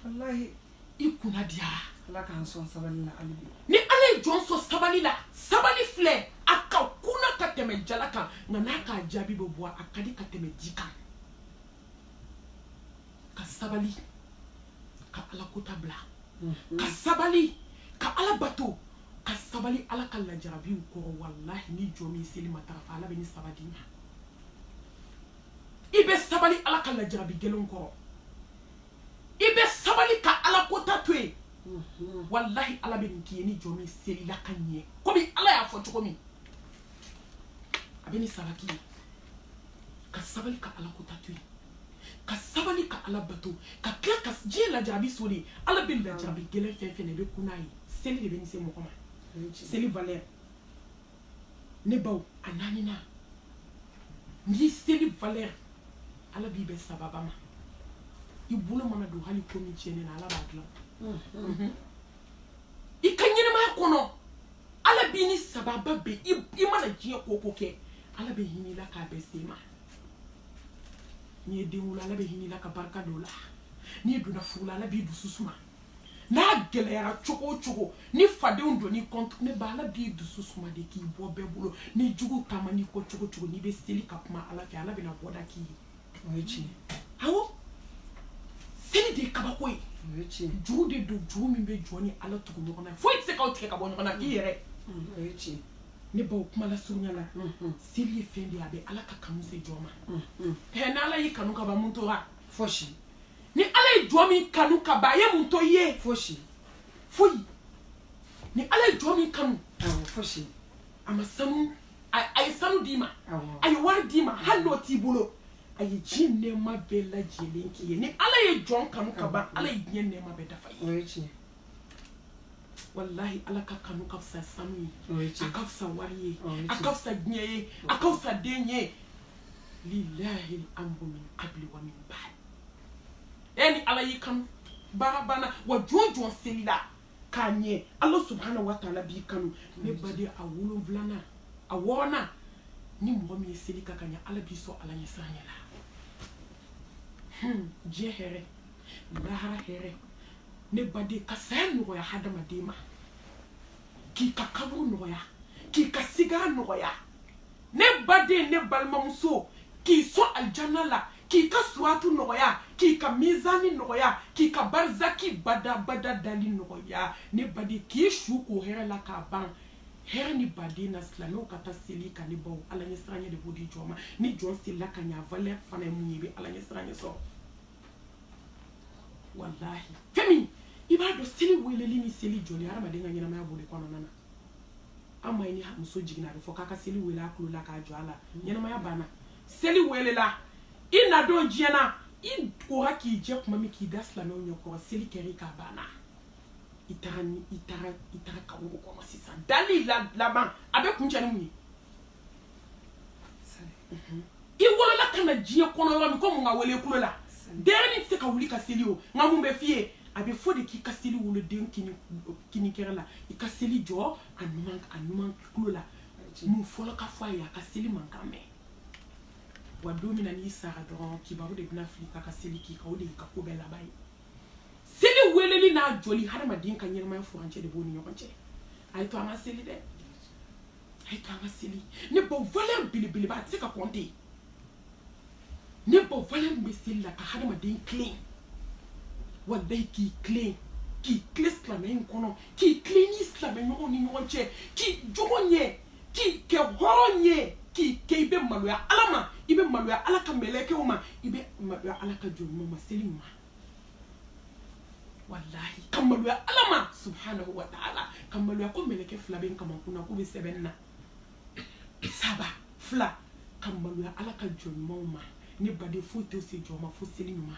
walayi i kunna diyara ala k'an sɔn sabali la hali bi ni ala ye jɔn sɔn sabali la sabali filɛ a ka kuna ka tɛmɛ jala kan nka n'a k'a jaabi bɛ bɔ a ka di ka tɛmɛ di kan ka sabali ka ala kota bila mhm. ka sabali ka ala bato ka sabali ala ka lajarabiw kɔrɔ walahi ni jɔn min seli matarafa ala bɛ nin saba d'i ma i bɛ sabali ala ka lajarabi gɛlɛnw kɔrɔ i bɛ sabali ka ala kota to yen mhm. walahi ala bɛ nin k'i ye ni jɔn min selila ka ɲɛ komi ala y'a fɔ cogo min a bɛ nin saba k'i ye ka sabali ka ala kota to yen ka sabali ka ala bato ka tila ka diɲɛ lajarabi so de ala bɛ lajarabi gɛlɛn fɛn o fɛn na i bɛ kun n'a ye seli de bɛ nin se mɔgɔ ma seli valeur ne baw a naaninan n'i seli valeur ala b'i bɛn sababa ma i bolo mana don hali ko min tiɲɛnen na ala b'a dilan mhm. i ka ɲɛnamaya kɔnɔ ala b'i ni sababa bɛn i mana diɲɛ ko o ko kɛ ala bɛ hinɛ i la k'a bɛɛ se ma n'i ye den wolo ala bɛ hinɛ i la ka barika don o la n'i donna furu la ala b'i dusu suma n'a gɛlɛyara cogo o cogo ni fadenw donn'i kɔntu ne ba ala b'i dusu suma de k'i bɔ bɛɛ bolo ni jugu taaman'i kɔ cogo o cogo n'i bɛ seli ka kuma ala fɛ ala bɛna bɔda k'i ye o ye tiɲɛ awɔ seli de ye kabako ye o ye tiɲɛ juru de don juru min bɛ jɔn ni ala tugu ɲɔgɔn na foyi tɛ se k'aw tigɛ ka bɔ ɲɔgɔn na k'i yɛrɛ o ye tiɲɛ ne baw kuma lasurunya la seli ye fɛn de ye a bɛ ala ka kanu se jɔn ma ɛ ni ala y'i kanu ka ban mun tora fosi ni ala ye jɔn min kanu ka ban a ye mun to i ye fosi foyi ni ala ye jɔn min kanu awɔ fosi a ma sanu a a ye sanu d'i ma Awɔ. a ye wari d'i ma hali n'o t'i bolo a ye diɲɛ nɛɛma bɛɛ lajɛlen k'i ye ni ala ye jɔn kanu ka ban ala ye diɲɛ nɛɛma bɛɛ dafa i ye o ye tiɲɛ walahi ala ka kanu ka fisa sanu ye a ka fisa wari ye a ka fisa diɲɛ ye a ka fisa den ye lilahi al-amru min qabli wa min ba'd e ni ala y'i kanu baara banna wa jɔn o jɔn selila ka ɲɛ ala subhanahu wa taala b'i kanu ne baden a wolonwulanan a wɔɔrɔnan ni mɔgɔ min ye seli kɛ ka ɲɛ ala b'i sɔn ala ɲɛsiranɲɛ la diɲɛ hɛrɛ lahara hɛrɛ ne baden ka saya nɔgɔya hadamaden ma k'i ka kaburu nɔgɔya k'i ka sigara nɔgɔya ne baden ne balimamuso k'i sɔn alijana la k'i ka suratu nɔgɔya k'i ka mizani nɔgɔya k'i ka barizaki badabada dali nɔgɔya ne baden k'i su ko hɛrɛ la k'a ban hɛrɛ ni baden na silamɛw ka taa seli kan ne baw ala ɲɛ siranya de b'o di jɔn ma ni jɔn selila ka ɲa valeur fana ye mun ye i bɛ ala ɲɛ siranya sɔrɔ walahi fɛn min i b'a dɔn seli weleli ni seli jɔli hadamaden ka ɲɛnamaya b'o de kɔnɔna na an m'a ye ni muso jiginna a bɛ fɔ k'a ka seli wele a tulo la k'a jɔ a la ɲɛnamaya banna seli welela i na don diɲɛ na i kora k'i jɛ tuma min k'i da silamɛw ɲɛ kɔrɔ seli kɛr'i kan a banna i taara kaburu kɔnɔ sisan dali laban a bɛ kuncɛ ni mun ye i wolola ka na diɲɛ kɔnɔ yɔrɔ min ko mun ka wele kulo la denyɛrɛnin tɛ se ka wuli ka seli o nka mun bɛ f'i ye a bɛ fɔ de k'i ka seli wele den kinikɛrɛ la i ka seli jɔ a numan a numan kulo la mun fɔlɔ ka fɔ a ye a ka seli mankan mɛn wa don min na n'i sara dɔrɔn kibaru de bɛna fili k'a ka seli k'i kan o de y'i ka ko bɛɛ laban ye seli weleli n'a jɔli hadamaden ka ɲɛnamaya furancɛ de b'o ni ɲɔgɔn cɛ a ye to an ka seli dɛ a ye to an ka seli ne baw valeur belebeleba a tɛ se ka kɔnte ne baw valeur bɛ seli la ka hadamaden tilen walayi k'i tilen k'i tilen silamɛya in kɔnɔ k'i tilen ni silamɛ ɲɔgɔn ni ɲɔgɔn cɛ k'i jogo ɲɛ k'i kɛ hɔrɔn ye k'i kɛ i bɛ maloya ala ma i bɛ maloya ala ka mɛlɛkɛw ma i bɛ maloya ala ka jɔn ɲuman ma seli ɲuman walahi ka maloya ala ma subhanahu wa taala ka maloya ko mɛlɛkɛ fila bɛ n kamankun na k'u bɛ sɛbɛn na saba fila ka maloya ala ka jɔn ɲumanw ma ne baden foyi t'o se jɔn ma fo seli ɲuman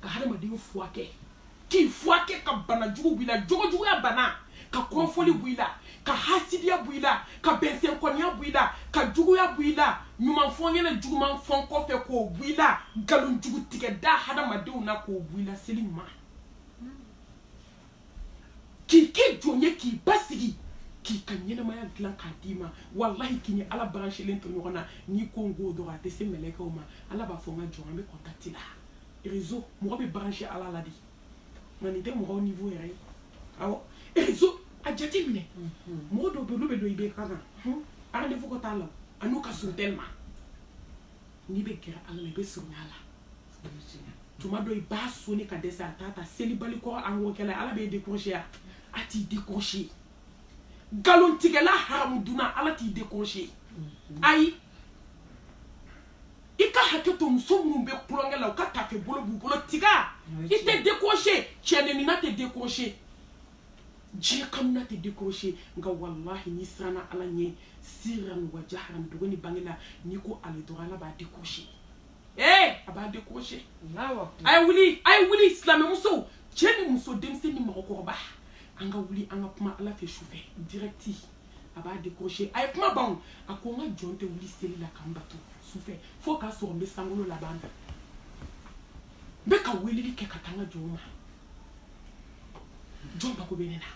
ka hadamaden furakɛ k'i furakɛ ka bana jugu b'i la jogojuguya bana ka kɔrɔfɔli b'i la ka hasidiya bɔ i la ka bɛnsɛnkɔniya bɔ i la ka juguya bɔ i la ɲuman fɔ n ɲɛ na juguman fɔ n kɔfɛ k'o bɔ i la nkalon jugu tigɛ da hadamadenw na k'o bɔ i la seli ɲuman k'i kɛ jɔn ye k'i basigi k'i ka ɲɛnamaya dilan k'a d'i ma walahi k'i ni ala branchélen to ɲɔgɔn na n'i ko n ko dɔrɔn a tɛ se mɛlɛkɛw ma ala b'a fɔ n ka jɔn an bɛ contact la réseau mɔgɔ bɛ branché ala la de nka nin tɛ mɔgɔw niveau yɛrɛ ye awɔ réseau a jate minɛ mɔgɔ dɔw bɛ olu bɛ don i bɛ ka na rendez-vous ko t'a la a n'u ka surun tellement n'i bɛ gɛrɛ ala la i bɛ surunya a la tuma dɔ i b'a sonner ka dɛsɛ a t'a ta selibali kɔ angokɛla ala b'e décrocher a t'i décrocher nkalontigɛla haramu dunna ala t'i décrocher ayi i ka hakɛ to muso minnu bɛ kulonkɛ la u ka tafe bolo b'u bolo tiga i tɛ décrocher cɛnenina tɛ décrocher diɲɛ kamina tɛ décrocher nka walahi n'i siranna ala ɲɛ siran wa jahran dogo ni bange la n'i ko ale dɔrɔn ala b'a décrocher ee a b'a décrocher a ye wuli a ye wuli silamɛmuso cɛ ni muso denmisɛnnin ni mɔgɔkɔrɔba an ka wuli an ka kuma ala fɛ su fɛ direct a b'a décroché a ye kuma bon a ko n ka jɔn tɛ wuli seli la ka n bato sufɛ fo k'a sɔrɔ n bɛ sankolo laban na n bɛ ka weleli kɛ ka taa n ka jɔnw ma jɔn mago bɛ ne na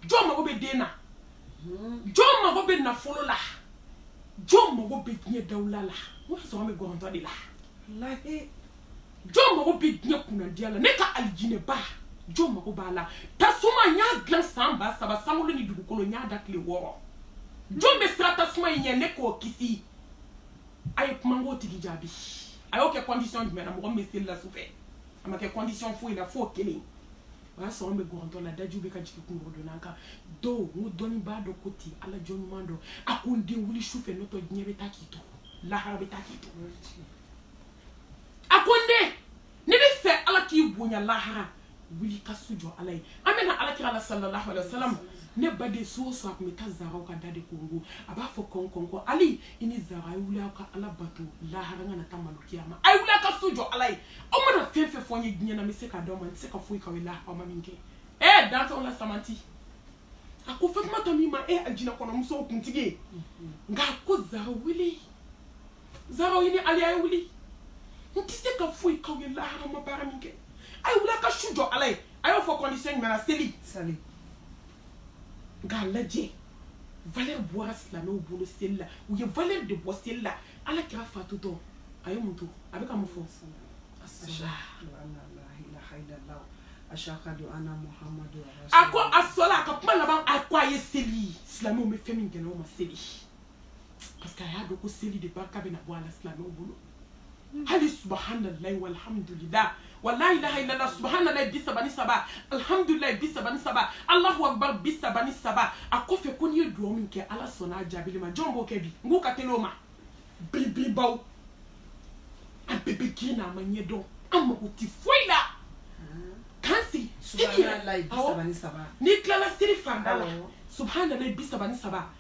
jɔn mago bɛ den na jɔn mago bɛ nafolo la jɔn mago bɛ diɲɛ dawula la o y'a sɔrɔ an bɛ gɔrɔntɔ de la jɔn mago bɛ diɲɛ kunnadiya la ne ka alijinɛba jɔn mago b'a la tasuma n y'a dilan san ba saba sankolo ni dugukolo n y'a da tile wɔɔrɔ jɔn bɛ siran tasuma in ɲɛ ne k'o kisi a ye kuma n k'o tigi jaabi a y'o kɛ condition jumɛn na mɔgɔ min bɛ seli la sufɛ a ma kɛ condition foyi la f'o kelen o y'a sɔrɔ an bɛ gɔrɔntɔ la dajiw bɛ ka jigin kunkɔrɔdonnan kan dɔw n ko dɔnnibaa dɔ ko ten ala jɔn ɲuman dɔ a ko n den wuli sufɛ n'o tɛ diɲɛ bɛ taa k'i to lahara bɛ taa k'i to a ko n den n'i b'a fɛ ala k'i bonya lahara wuli ka su jɔ ala ye an bɛna ala kira la sallallahu alaihi wasallam ne baden su o su a tun bɛ taa zaraw ka da de kɔnkɔn a b'a fɔ kɔn kɔn ko ali i ni zara a ye wuli aw ka ala bato lahara n kana taa malo kiyama a ye wuli a ka su jɔ ala ye aw mana fɛn fɛn fɔ n ye diɲɛ na n bɛ se k'a d'aw ma n tɛ se ka foyi k'aw ye lahara aw ma min kɛ ɛɛ dantɛw la samanti a ko fatumata min ma e alijinɛ kɔnɔ musow kuntigi ye nka a ko zara wuli zara i ni ali a ye wuli n tɛ se ka foyi k'aw ye lahara aw ma baara min kɛ a ye wuli a ka su jɔ ala ye a y'o fɔ condition jumɛn na seli an k'a lajɛ valeur bɔra silamɛw bolo seli la u ye valeur de bɔ seli la ala kira fatutɔ a ye mun to a bɛ ka mun fɔ a ko asala a ka kuma laban a ko a ye seli silamɛw bɛ fɛn min gɛlɛya ma seli parce que a y'a dɔn ko seli de barika bɛna bɔ a la silamɛw bolo hali subahanallahi walhamdulila wa la ilaha illallah subahanallahi bi saba ni saba alhamdulilayi bi saba ni saba alahu akbar bi saba ni saba a kɔfɛ ko n'i ye duwawu min kɛ ala sɔnna a jaabili ma jɔn b'o kɛ bi n k'u ka teli o ma bibibaw an bɛɛ bɛ girin na an m'a ɲɛ dɔn an mago tɛ foyi la k'an sigi seli yɛrɛ awɔ n'i tilala seli farida la subahanallahi bi saba ni saba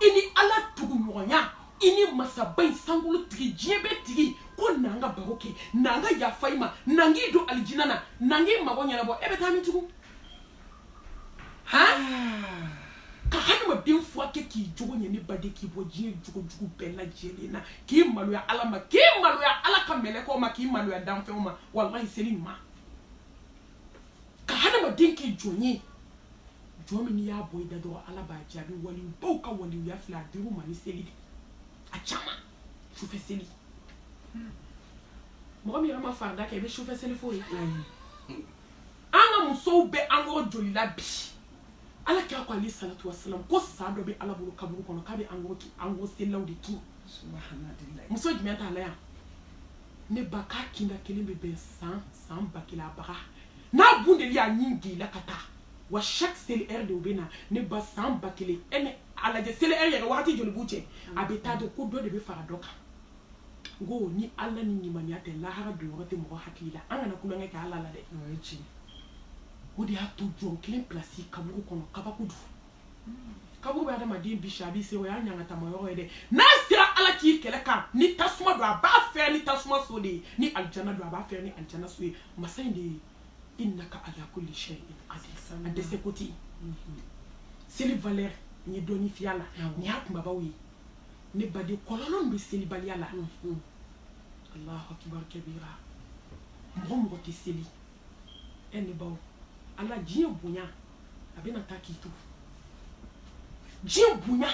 i ni ala tuguɲɔgɔnya i ni masaba in sankolo tigi diɲɛ bɛ tigi ko n'an ka baro kɛ n'an ka yafa i ma n'an k'i don alijina na n'an k'i mago ɲɛnabɔ e bɛ taa min tugun ka hadamaden furakɛ k'i jogo ɲɛ ne baden k'i bɔ diɲɛ jogo jugu bɛɛ lajɛlen na k'i maloya ala ma k'i maloya ala ka mɛlɛkɛw ma k'i maloya danfɛnw ma walahi seli ɲuman ka hadamaden kɛ jɔn ye jɔn min n'i y'a bɔ i da dɔrɔn ala b'a jaabi walibaw ka waliya filɛ a dir'u ma ni seli de a caman sufɛ seli mɔgɔ min yɛrɛ ma farida kɛ i bɛ sufɛ seli fo ye an ka musow bɛ an kɔrɔ joli la bi ala kira ko alayhi salatu wasalam ko sa dɔ bɛ ala bolo kaburu kɔnɔ k'a bɛ an kɔrɔ ki- an kɔrɔ selilaw de kin muso jumɛn t'a la yan ne ba k'a kinda kelen bɛ bɛn san ba kelen a baga n'a bun deli y'a ɲin gila ka taa wa chaque seli heure de u bɛ na ne ba san ba kelen e ne a lajɛ seli heure yɛrɛ wagati joli b'u cɛ a bɛ t'a dɔn ko dɔ de bɛ fara dɔ kan n ko ni ala ni limaniya tɛ lahara don yɔrɔ tɛ mɔgɔ hakili la an kana tulonkɛ kɛ ala la dɛ o de y'a to jɔn kelen pilasi kaburu kɔnɔ kabako don kaburu bɛ adamaden bisi a b'i se o y'a ɲagatama yɔrɔ ye dɛ n'a sera ala k'i kɛlɛ kan ni tasuma don a b'a fɛrɛ ni tasuma so de ye ni alijana don a b'a fɛrɛ ni alijana so ye masa in de ye innaka ala kulli shay'in qadir a dɛsɛ ko tɛ yen seli valeur n ye dɔɔni f'a la nin y'a kunbabaw ye ne baden kɔlɔlɔ min bɛ selibaliya la alahu akibar kabira mɔgɔ mɔgɔ tɛ seli e ne baw ala diɲɛ bonya a bɛna taa k'i to diɲɛ bonya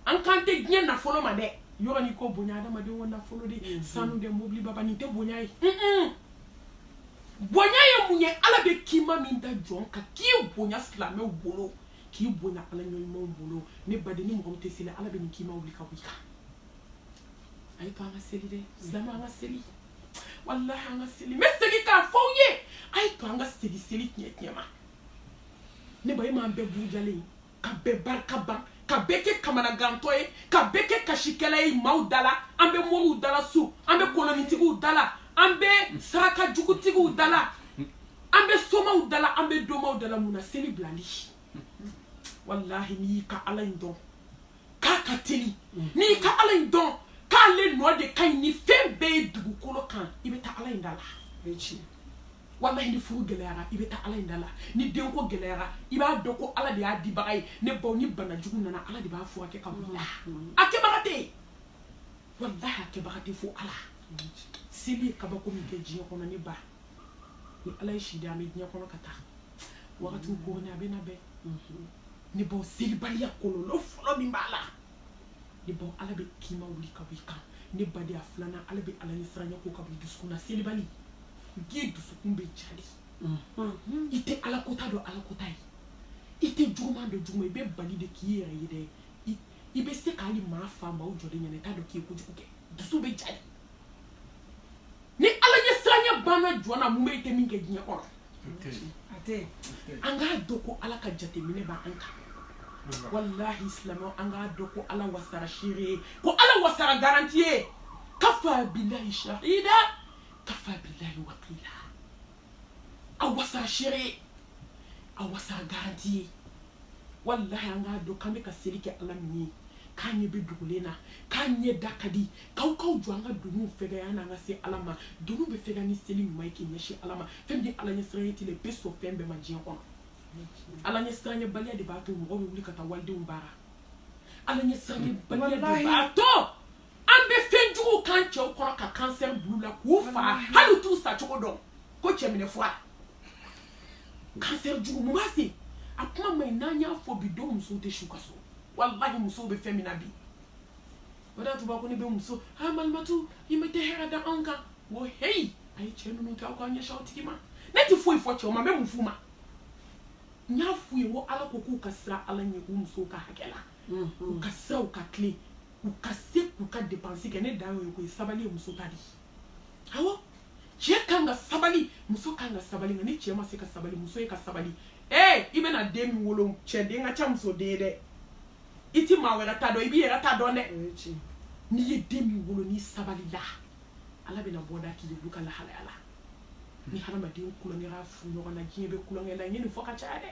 an kan tɛ diɲɛ nafolo ma dɛ yɔrɔ ni ko bonya adamaden ko nafolo de mm-hmm. sanu de mobili baba nin tɛ bonya ye bonya ye mun ye ala bɛ kima min da jɔn kan k'i bonya silamɛw bolo k'i bonya ala jɔn ɲumanw bolo ne baden ni mɔgɔ min tɛ seli ala bɛ nin kima wuli ka bɔ i kan a ye to an ka seli dɛ silamɛ an ka seli walahi an ka seli n bɛ segin k'a fɔ aw ye a ye to an ka segin seli tiɲɛ ma ne ba e m'an bɛɛ burujalen ye ka bɛɛ barika ban ka bɛɛ kɛ kamanagantɔ ye ka bɛɛ kɛ kasikɛla ye maaw da la an bɛ moriw da la su an bɛ kolonitigiw da la an bɛ saraka jugutigiw da la an bɛ somaw da la an bɛ donmaw da la mun na seli bilali walahi n'i y'i ka ala in dɔn k'a ka teli n'i ka ala in dɔn k'ale nɔ de ka ɲi ni fɛn bɛɛ ye dugukolo kan i bɛ taa ala in da la walahi ni furu gɛlɛyara i bɛ taa ala in da la ni denko gɛlɛyara i b'a dɔn ko ala de y'a dibaga ye ne baw ni bana jugu nana ala de b'a furakɛ ka wuli a kɛbaga tɛ yen walahi a kɛbaga tɛ fo ala seli ye kabako min kɛ diɲɛ kɔnɔ ne ba ni ala ye si di an bɛ diɲɛ kɔnɔ ka taa wagati kooni a bɛna bɛn ne baw selibaliya kɔlɔlɔ fɔlɔ min b'a la ne baw ala bɛ kima wuli ka bɔ i kan ne baden a filanan ala bɛ ala ɲɛ siranya ko ka bɔ i dusukun na selibali diɲɛ dusukun bɛ ja de i tɛ ala kota dɔn ala kota ye i tɛ juguman dɔn juguman i bɛ bali de k'i yɛrɛ ye dɛ i bɛ se ka hali maa fa maaw jɔlen ɲɛna i t'a dɔn k'i ye kojugu kɛ dusu bɛ ja de ni ala ɲɛ siranya banna jɔn na mun bɛ i tɛ min kɛ diɲɛ kɔnɔ an k'a dɔn ko ala ka jateminɛ b'an kan walahi silamɛ an k'a dɔn ko ala wasara seere ye ko ala wasara garanti ye kafa bilahi shahida kafa bilahi wakila a wasara seere ye a wasara garanti ye walahi an k'a dɔn k'an bɛ ka seli kɛ ala min ye k'an ɲɛ bɛ dugulen na k'an ɲɛda ka di k'aw k'aw jɔ an ka doniw fɛgɛya n'an ka se ala ma doniw bɛ fɛgɛya ni seli ɲuman ye k'i ɲɛsin ala ma fɛn min ye ala ɲɛ siranɲɛ t'i la i bɛ sɔn fɛn bɛɛ ma diɲɛ kɔnɔ ala ɲɛ siranɲɛbaliya de b'a to mɔgɔ bɛ wuli ka taa walidenw baara ala ɲɛ siranɲɛbaliya de b'a to an bɛ fɛn jugu k'an cɛw kɔrɔ ka cancer bil'u la k'u fa hali i t'u sacogo dɔn ko cɛminɛ fura cancer jugu mun se a kuma ma n'an y'a fɔ bi dɔw musow tɛ s'u ka so walahi musow bɛ fɛn min na bi o de y'a to u b'a ko ne bɛ muso ha malimatu i ma tɛ hɛrɛ da anw kan o heyi a ye cɛ ninnu kɛ aw k'aw ɲɛsin aw tigi ma ne tɛ foyi fɔ cɛw ma n bɛ mun f'u ma n y'a f'u ye ko ala ko k'u ka siran ala ɲɛ k'u musow ka hakɛ la u ka siran u ka tilen u ka se k'u ka dépense kɛ ne dan y'o ye ko ye sabali ye muso ta de awɔ cɛ kan ka sabali muso kan ka sabali nka ni cɛ ma se ka sabali muso ye ka sabali ee i bɛna den min wolo cɛ den ka ca muso den ye dɛ i ti maa wɛrɛ ta dɔn i b'i yɛrɛ ta dɔn dɛ n'i ye den min wolo n'i sabalila ala bɛna bɔda k'i ye olu ka lahalaya la ni hadamaden kulonkɛra fu ɲɔgɔn na diɲɛ bɛ kulonkɛ la n ye nin fɔ ka caya dɛ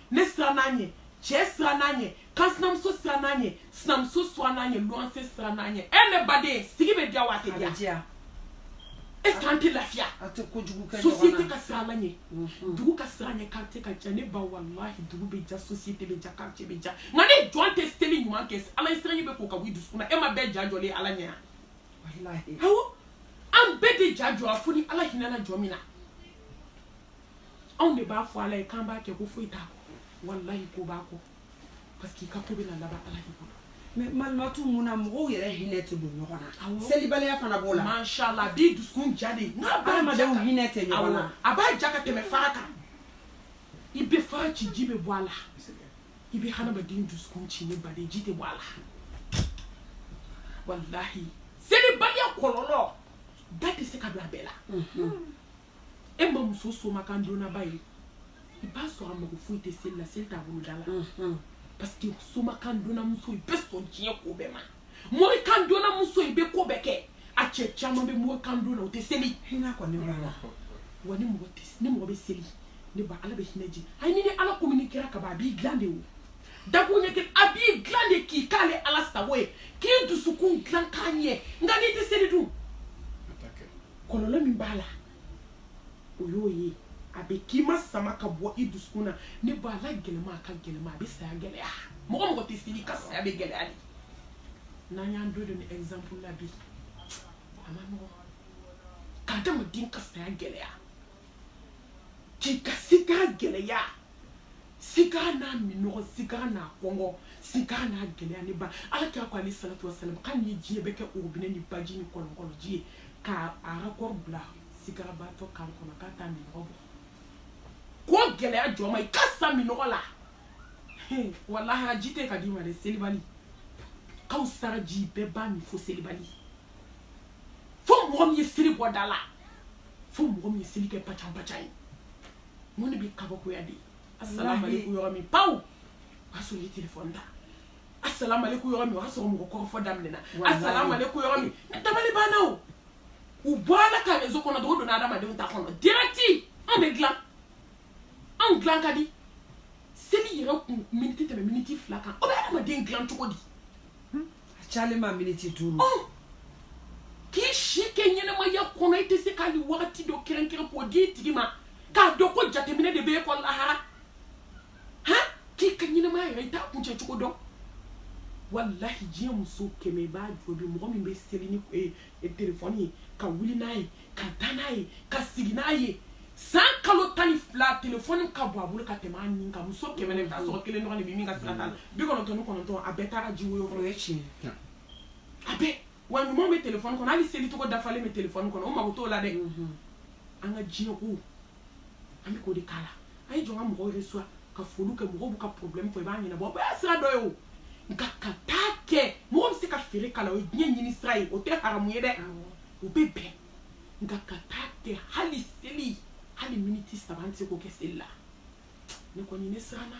ne siranna a ɲɛ cɛ siranna a ɲɛ kansinamuso siranna a ɲɛ sinamuso siranna a ɲɛ luwanse siranna a ɲɛ e ne baden sigi bɛ diya wa a tɛ diya est ce que an tɛ lafiya société ka siran ala ɲɛ mhm. dugu ka siran a ɲɛ quartier ka diya ne ba walahi dugu bɛ diya société bɛ diya quartier bɛ diya nka ni jɔn tɛ seli ɲuman kɛ ala ye siranɲɛ bɛ ko ka bɔ i dusukun na e maa bɛɛ ja jɔlen ala ɲɛ yan awɔ an bɛɛ de ja jɔra fo ni ala hinɛna jɔn min na anw de b'a fɔ ala ye k'an b'a kɛ ko foyi t'a kɔ walayi ko b'a kɔ parce que i ka ko bɛna laban ala de bolo mais malimatu mun na mɔgɔw yɛrɛ hinɛ tɛ don ɲɔgɔn na selibaliya fana b'o la mashala bi dusukun jalen hadamadenw hinɛ tɛ ɲɔgɔn na a b'a ja ka tɛmɛ fara kan i bɛ fara ci ji bɛ bɔ a la i bɛ hadamaden dusukun ci ne baden ji tɛ bɔ a la walahi selibaliya kɔlɔlɔ da tɛ se ka don a bɛɛ la e ma muso somakan donnaba ye i b'a sɔrɔ a mago foyi tɛ seli la seli t'a bolo da la parce que somakan donnamuso i bɛ sɔn diɲɛ ko bɛɛ ma morikan donnamuso i bɛ ko bɛɛ kɛ a cɛ caman bɛ morikan donna o tɛ seli hinɛ kɔni b'a la wa ni mɔgɔ tɛ ni mɔgɔ bɛ seli ne ba ala bɛ hinɛ jigin ayi n'i ni ala kominikera kaban a b'i dilan de o dakun ɲɛ kelen a b'i dilan de k'i k'ale ala sago ye k'i dusukun dilan k'a ɲɛ nka n'i tɛ seli dun kɔlɔlɔ min b'a la o y'o ye a bɛ k'i ma sama ka bɔ i dusukun na ne ba ala gɛlɛma a ka gɛlɛma a bɛ saya gɛlɛya mɔgɔ mɔgɔ tɛ seli ka saya bɛ gɛlɛya de n'an y'an do don ni exemple la bi a man nɔgɔn ka adamaden ka saya gɛlɛya k'i ka sikara gɛlɛya sikara n'a minɔgɔ sikara n'a kɔngɔ sikara n'a gɛlɛya ne ba ala kira ko alayhi salatu wasalam k'an ye diɲɛ bɛɛ kɛ orobinɛ ni baji ni kɔlɔnkɔlɔji ye k'a arakɔrɔ bila sikarabaatɔ kan kɔnɔ k'a t'a minɔgɔ bɔ ko gɛlɛya jɔ ma i ka sa minɔgɔ la walahi ji tɛ ka d'i ma dɛ selibali kawsara ji bɛɛ b'a min fo selibali fo mɔgɔ min ye seli bɔ da la fo mɔgɔ min ye seli kɛ bacabaca ye mun de bɛ kabakoya de ye asalaamaaleykum yɔrɔ min paw o y'a sɔrɔ i ye telefɔni ta asalaamaaleykum yɔrɔ min o y'a sɔrɔ mɔgɔ kɔrɔfɔ daminɛna asalaamaaleykum yɔrɔ min dabali banna o u bɔra ala ka rezo kɔnɔ dɔw donna adamadenw ta kɔnɔ dirɛti an bɛ dilan anw dilan ka di seli yɛrɛ kun miniti tɛmɛ miniti fila kan o bɛ adamaden dilan cogo di a cayalen ma miniti duuru oh! k'i si kɛ ɲɛnɛmaya kɔnɔ i tɛ se k'ale wagati dɔ kɛrɛnkɛrɛn k'o di i tigi ma k'a dɔn ko jateminɛ de bɛ e kɔ lahara han k'i ka ɲɛnɛmaya yɛrɛ i t'a kuncɛ cogo dɔn walahi diɲɛ muso kɛmɛ i b'a jɔ bi mɔgɔ min bɛ seli ni eh, e telefɔni ye ka wuli n'a ye ka taa n'a ye ka sigi n'a ye san kalo tan ni fila telefɔni ka bon a bolo ka tɛmɛ a nin kan muso kɛmɛ i bɛ t'a sɔrɔ kelen dɔrɔn de bɛ min ka sira t'a la bi kɔnɔntɔn ni kɔnɔntɔn a bɛɛ taara ji woyo kɔrɔ o ye tiɲɛ ye a bɛɛ wa ɲuman bɛ telefɔni kɔnɔ hali seli cogo dafalen bɛ telefɔni kɔnɔ o mago t'o la dɛ an ka diɲɛ ko an bɛ k'o de k'a la a ye jɔ ka mɔgɔw reçoit ka foliw kɛ mɔgɔw b'u ka problème fɔ i b'a ɲɛnabɔ o bɛɛ ye sira dɔ ye o nka ka taa kɛ mɔgɔ bɛ se ka feere k'a la o ye diɲɛ ɲini sira ye o tɛ haramu ye dɛ o bɛ bɛn nka ka taa kɛ hali seli hali miniti saba an tɛ se k'o kɛ seli la ne kɔni ne siranna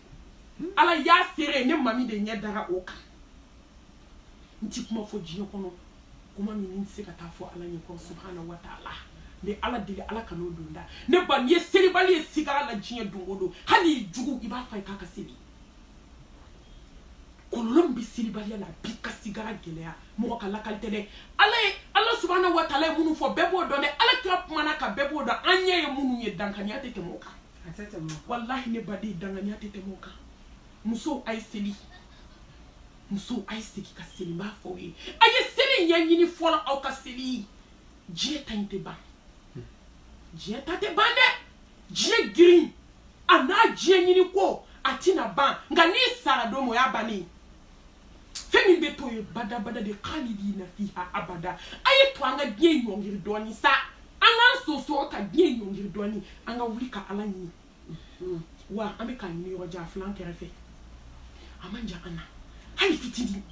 ala y'a seere ye ne mami de ɲɛ dara o kan n ti kuma fɔ diɲɛ kɔnɔ kuma min n tɛ se ka taa fɔ ala ɲɛ kɔrɔ subhana wa taala n bɛ ala deli ala kan'o don da ne ba n'i ye selibali ye sigara la diɲɛ don o don hali i jugu i b'a fɔ a ye k'a ka seli kɔlɔlɔ min bɛ selibaliya la a b'i ka sigara gɛlɛya mɔgɔ ka lakali tɛ dɛ ala ye ala subhana wa taala ye minnu fɔ bɛɛ b'o dɔn dɛ ala kira kumana a kan bɛɛ b'o dɔn an ɲɛ ye minnu ye dankaniya tɛ tɛmɛ o kan walahi ne baden danganiya tɛ tɛmɛ o kan musow a ye seli musow a ye segi ka seli n b'a fɔ aw ye a ye seli ɲɛɲini fɔlɔ aw ka seli diɲɛ ta in tɛ ban diɲɛ ta tɛ ban dɛ diɲɛ girin a n'a diɲɛ ɲini ko a tɛna ban nka n'i sara don o y'a bannen ye fɛn min bɛ to ye badabada de khalidina fiha abada a ye to an ka diɲɛ ɲɔngiri dɔɔni sa an k'an sonsoro ka diɲɛ ɲɔngiri dɔɔni an ka wuli ka ala ɲini mhm. wa an bɛ k'a ɲini yɔrɔ jan a filɛ an kɛrɛfɛ a man jan an na hali fitinin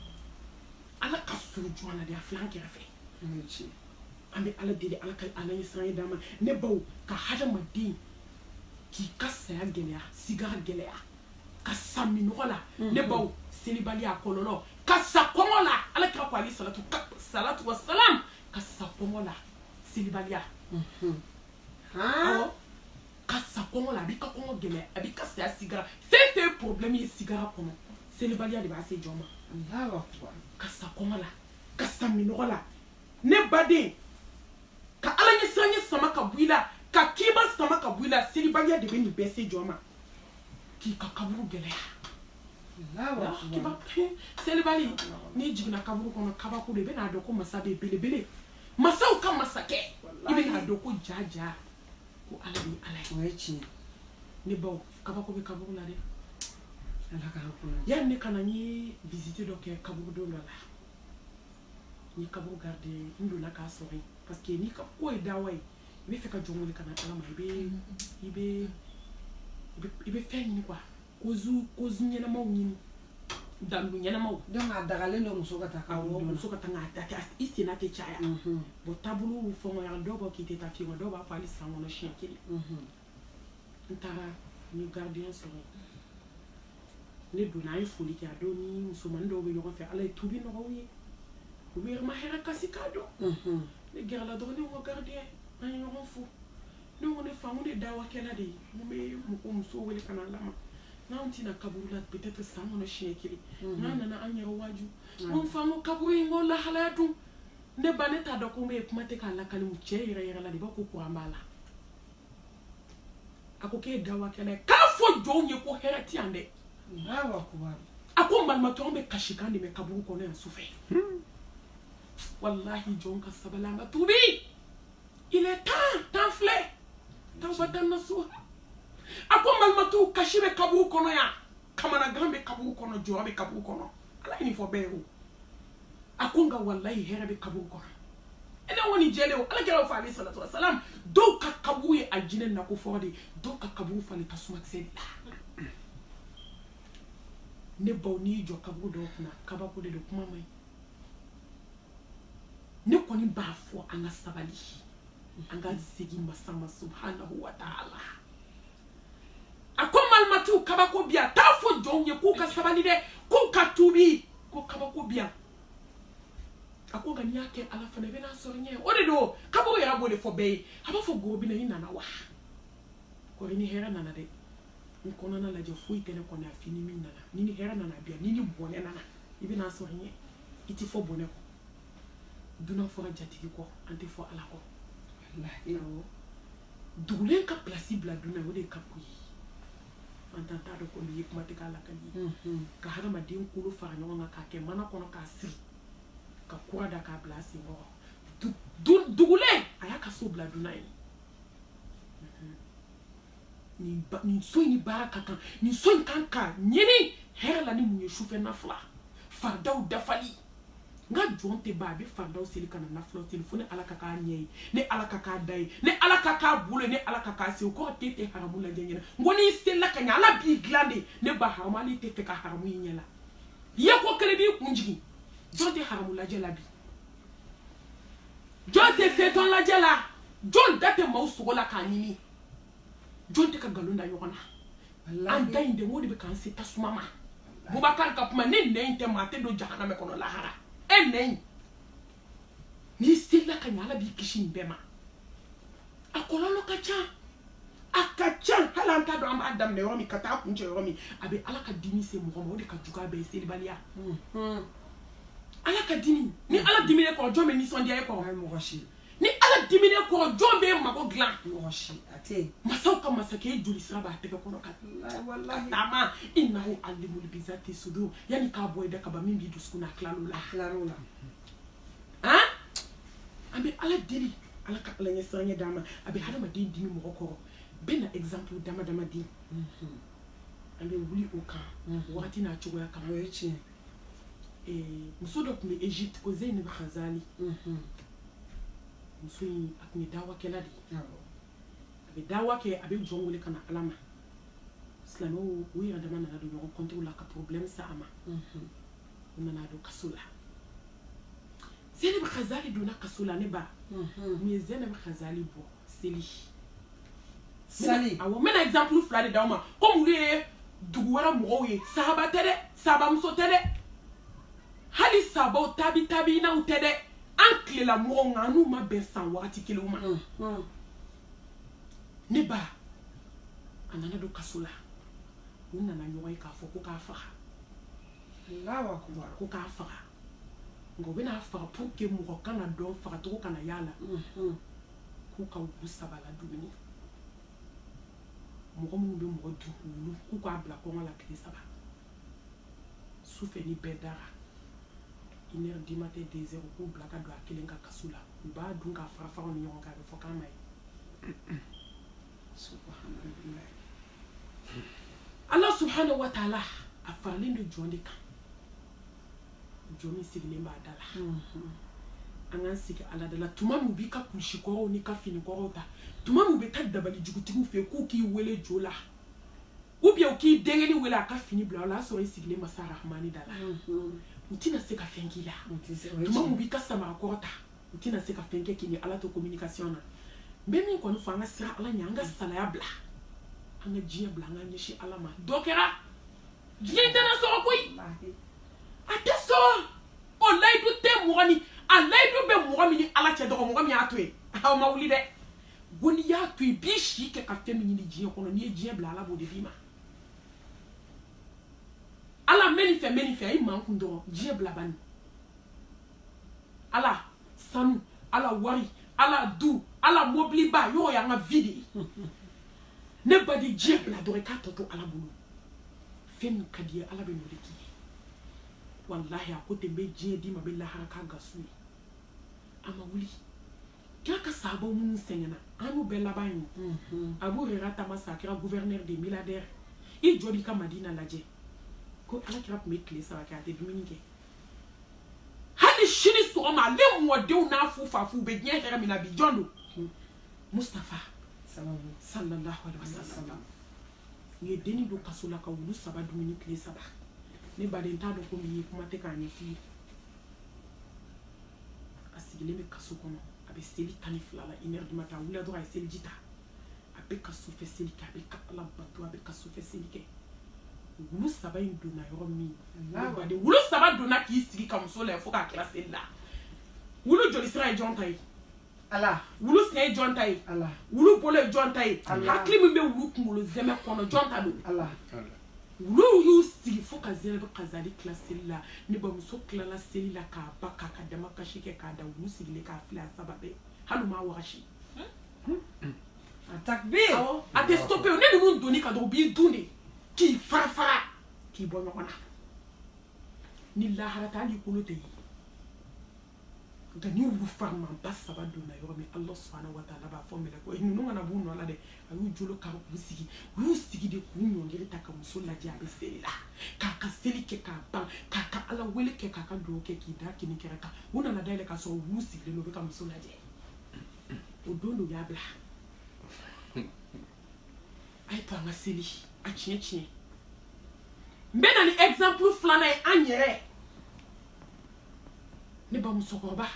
ala ka surun jɔn na de a filɛ an kɛrɛfɛ an bɛ ala deli ala ka ala ɲɛ siran ɲɛ d'an ma ne baw ka hadamaden k'i ka saya gɛlɛya sigara gɛlɛya ka sa minɔgɔ la mhm. ne baw selibaliya kɔlɔlɔ ka sa kɔngɔ la ala kira ko alayhi salatu wa salam ka sa kɔngɔ la selibaliya mhm. awɔ ka sa kɔngɔ la a b'i ka kɔngɔ gɛlɛya a b'i ka saya sigara fɛn fɛn ye problème ye sigara kɔnɔ selibaliya de b'a se jɔn ma ka sa kɔngɔ la ka sa minɔgɔ la ne baden ka ala ɲɛ siran ɲɛ sama ka bɔ i la ka kima sama ka bɔ i la selibaliya de bɛ nin bɛɛ se jɔn ma k'i ka kaburu gɛlɛya selibali n'i jiginna kaburu kɔnɔ kabako de i bɛn'a dɔn ko masa bɛ belebele masaw ka masakɛ i bɛn'a dɔn ko ja ja ko ala de ye ala ye o ye tiɲɛ ne baw kabako bɛ kaburu la dɛ yanni ne ka na n ye visite dɔ kɛ kaburudo dɔ la n ye kaburu garde n donna k'a sɔrɔ yen parce que n'i ka ko ye dawa ye i bɛ fɛ ka jɔn wele ka na ala ma i bɛ i bɛ i bɛ fɛn ɲini quoi kozu kozu ɲɛnamaw ɲini dandu ɲɛnamaw donc a dagalen don muso ka taa kaburu muso ka taa k'a ta i senna tɛ caya bon taabolow fɛngɔyara dɔw b'a k'i tɛ taa fewu dɔw b'a fɔ hali san kɔnɔ siɲɛ kelen n taara n ye gardien sɔrɔ ne donna an ye foli kɛ a don ni musomanin dɔw bɛ ɲɔgɔn fɛ ala ye tubi nɔgɔya u ye u bɛ ma hɛrɛ kasi k'a dɔn mhm. ne gɛrɛla dɔrɔn ne ko gardien an ye ɲɔgɔn fo ne ko ne fa ko ne dawakɛla de ye n bɛ mɔgɔ musow wele ka na ala ma n'anw tɛ na kaburu la peut-être san kɔnɔ siɲɛ kelen mhm. n'an nana an yɛrɛ waaju n ko n fa n ko kaburu in n ko lahalaya dun ne ba ne t'a dɔn ko n bɛ kuma tɛ k'a lakali su cɛ yɛrɛ yɛrɛ la de b'a ko kuran b'a la a ko k'e dawakɛla k'a fɔ jɔnw ye ko hɛrɛ ti yan dɛ a ko malimatu an bɛ kasikan de mɛn kaburu kɔnɔ yan sufɛ hmm. walahi jɔn ka sabali an ka tubi il est temps temps filɛ tawbatan nasuha a ko malimatu kasi bɛ kaburu kɔnɔ yan kamanagan bɛ kaburu kɔnɔ jɔrɔ bɛ kaburu kɔnɔ ala ye nin fɔ bɛɛ ye o a ko nka walayi hɛrɛ bɛ kaburu kɔnɔ e ne kɔni jɛlen o ala kira b'a fɔ alayhi salatu wa salam dɔw ka kaburu ye alijinɛ nakɔ fɔlɔ de ye dɔw ka kaburu falen tasumakisɛ de la ne baw n'i y'i jɔ kaburu dɔw kunna kabako de don kuma man ɲi ne kɔni b'a fɔ an ka sabali an ka segin masa ma subhanahu wa ta'ala a ko malimatiw kabako bi yan t'a fɔ jɔnw ye k'u ka sabali dɛ k'u ka tuubi ko kabako bi yan a ko nka n'i y'a kɛ ala fana i bɛn'a sɔrɔ i ɲɛ o de don kabako yɛrɛ b'o de fɔ bɛɛ ye a b'a fɔ goro bina i nana wa kɔr'i ni hɛrɛ nana dɛ n kɔnɔna lajɛ foyi tɛ ne kɔnɔ fo i ni min nana n'i ni hɛrɛ nana a bi yan n'i ni bɔnɛ nana i bɛn'a sɔrɔ i ɲɛ i tɛ fɔ bɔnɛ kɔ dunan fɔra jatigi kɔ an tɛ fɔ ala kɔ dugulen ka pilasi bila dunan o de ye kabako ye an t'an t'a dɔn ko nin ye kuma tɛ k'a lakali ye ka hadamaden kolo fara ɲɔgɔn kan k'a kɛ mana kɔnɔ k'a siri ka kura da k'a bila a sen kɔrɔ dugulen a y'a ka so bila dunan ye nin so in ni baara ka kan nin so in kan ka ɲini hɛrɛ la ni mun ye sufɛ nafila faridaw dafali n ka jɔn tɛ ban a bɛ faridaw seli ka na nafilaw seli fo ne ala ka k'a ɲɛ ye ne ala ka k'a da ye ne ala ka k'a bolo ye ne ala ka k'a sen o kɔrɔ k'e tɛ haramu lajɛ ɲɛna n ko n'i selila ka ɲɛ ala b'i dilan de ne ba haramu hali i tɛ fɛ ka haramu i ɲɛ la ye ko kelen b'i kun jigin jɔn tɛ haramu lajɛ la bi jɔn tɛ feuilleton lajɛ la jɔn da tɛ maaw sogo la k'a ɲimi jɔn tɛ ka nkalon da ɲɔgɔn na an da in de o de bɛ k'an se tasuma ma bubakari ka kuma ni nɛn in tɛ maa tɛ don jahanama kɔnɔ lahara e nɛn in n'i selila ka ɲɛ ala b'i kisi nin bɛɛ ma a kɔlɔlɔ ka ca a ka ca hali an t'a dɔn an b'a daminɛ yɔrɔ min ka taa kuncɛ yɔrɔ min a bɛ ala ka dimi se mɔgɔ ma o de ka jugu a bɛɛ ye selibaliya ala ka dimi ni ala dimin'e kɔrɔ jɔn bɛ nisɔndiya e kɔrɔ mɔgɔ si ni ala dimin'e kɔrɔ jɔn b'e mago dilan masaw ka masakɛ joli sira b'a tɛgɛ kɔnɔ ka taama innahu alimun bizati sudur yanni k'a bɔ i da kaba min b'i dusukun na tilal'o la tilal'o la han an bɛ ala deli ala ka ala ɲɛsiranɲɛ d'an ma a bɛ hadamaden dimi mɔgɔ kɔrɔ bɛ na exemple dama dama di an bɛ wuli o kan wagati n'a cogoya kan o ye tiɲɛ eh, muso dɔ tun bɛ egypte ko zeynab khazali mhm. muso in a tun ye dawakɛla de ye a bɛ dawa kɛ a bɛ jɔn wele ka na ala ma silamɛw u yɛrɛ dama nana don ɲɔgɔn kɔntew la ka problème sa a ma mhm. u nana don kaso la zeynab khazali donna kaso la ne ba mun ye zeynab khazali bɔ seli awɔ n bɛna exemple fila de d'aw ma komi olu ye dugu wɛrɛ mɔgɔw ye sahaba tɛ dɛ sahabamuso tɛ dɛ hali sahabaw tabi tabiinaw tɛ dɛ an tilela mɔgɔw nka an n'u ma bɛn san wagati kelenw ma ne ba a nana don kaso la u nana ɲɔgɔn ye k'a fɔ ko k'a faga ko k'a faga nka u bɛn'a faga pour que mɔgɔ kana dɔn fagacogo kana y'a la mhm. k'u ka wulu saba la dumuni mɔgɔ minnu bɛ mɔgɔ dun wulu k'u k'a bila kɔngɔ la tile saba su fɛ ni bɛɛ dara une heure du matin deux heures u k'u bila ka don a kelen ka kaso la u b'a dun k'a fara faraw ni ɲɔgɔn kan a bɛ fɔ k'a ma ye ala subhanahu wa taala a faralen don jɔn de kan jɔn min sigilen b'a da la an k'an sigi ala da la tuma min b'i ka kurusi kɔrɔw n'i ka fini kɔrɔw ta tuma min bɛ taa dabali jugutigiw fɛ k'u k'i wele jo la ou bien u k'i denkɛni wele a ka fini bila o la a sɔrɔ i sigilen masa rahamani da la u tɛna se ka fɛn k'i la tuma min b'i ka samara kɔrɔ ta u tɛna se ka fɛn kɛ k'i ni ala to communication na n bɛ min kɔni fɔ an ka siran ala ɲɛ an ka salaya bila an ka diɲɛ bila an ka ɲɛsin ala ma dɔ kɛra diɲɛ tɛna sɔrɔ koyi a tɛ sɔrɔ o layidu tɛ mɔgɔ ni a layidu bɛ mɔgɔ min ni ala cɛ dɔgɔ mɔgɔ min y'a to yen aw ma wuli dɛ ko n'i y'a to yen b'i si kɛ ka fɛn min ɲini diɲɛ kɔnɔ n'i ye diɲɛ bila ala b'o de d'i ma ala n bɛ nin fɛ n bɛ nin fɛ ayi makun dɔrɔn diɲɛ bila bani ala sanu ala wari ala du ala mɔbiliba yɔrɔ y'an ka vie de ye ne ba di diɲɛ bila dɔrɔn i k'a tɔ to ala bolo fɛn min ka d'i ye ala bɛn'o de k'i ye walahi a ko ten n bɛ diɲɛ d'i ma n bɛ lahara k'a gasu ye a ma wuli k'a ka sahabaw minnu sɛgɛnna an y'u bɛɛ laban ye mhm. abu huraira tama sa a kɛra gouverneur de milliardaire i jɔ b'i ka madina lajɛ ko ala kira tun bɛ tile saba kɛ a tɛ dumuni kɛ hali sini sɔgɔma ale mɔdenw n'a fufafu bɛ diɲɛ hɛrɛ min na bi jɔn don Mustafa sallallahu alaihi wasallam u ye denni don kaso la ka wulu saba dumuni tile saba ne baden t'a dɔn ko min ye kuma tɛ k'a ɲɛf'i ye a sigilen bɛ kaso kɔnɔ a bɛ seli tan ni fila la une heure du matin a wulila dɔrɔn a ye seliji ta a bɛ ka sufɛ seli kɛ a bɛ ka ala bato a bɛ ka sufɛ seli kɛ wulu saba in donna yɔrɔ min baden wulu saba donna k'i sigi ka muso lajɛ fo k'a tila seli la wulu joli sira ye jɔn ta ye Ala wulu sen ye jɔn ta ye Ala wulu bolo ye jɔn ta ye Ala hakili min bɛ wulu kunkolo zɛmɛ kɔnɔ jɔn ta don Ala wuluw y'u sigi fo ka Zeynab Khazali tila seli la ne bamuso tilala seli la k'a ban k'a ka damakasi kɛ k'a da wulu sigilen k'a filɛ a saba bɛɛ hali u m'a wagasi takbir awɔ a tɛ stoppé o ni ninnu donn'i kan dɔrɔn u b'i dun de k'i fara fara k'i bɔ ɲɔgɔn na ni lahara tɛ hali i kolo tɛ ye nka ni wulu farimanba saba donna yɔrɔ min ala subahana wa taala b'a fɔ mɛlɛkɛw ninnu kana b'u nɔ la dɛ a y'u jɔlɔkɔ k'u sigi u y'u sigi de k'u ɲɛ kɔrɔta ka muso lajɛ a bɛ seli la k'a ka seli kɛ k'a ban k'a ka ala wele kɛ k'a ka dugawu kɛ k'i da kini kɛrɛ kan u nana da yɛlɛ k'a sɔrɔ wulu sigilen don u bɛ ka muso lajɛ o don de u y'a bila a ye to an ka seli a tiɲɛ tiɲɛ n bɛ na ni exemple filanan ye an yɛrɛ ne ba musokɔrɔba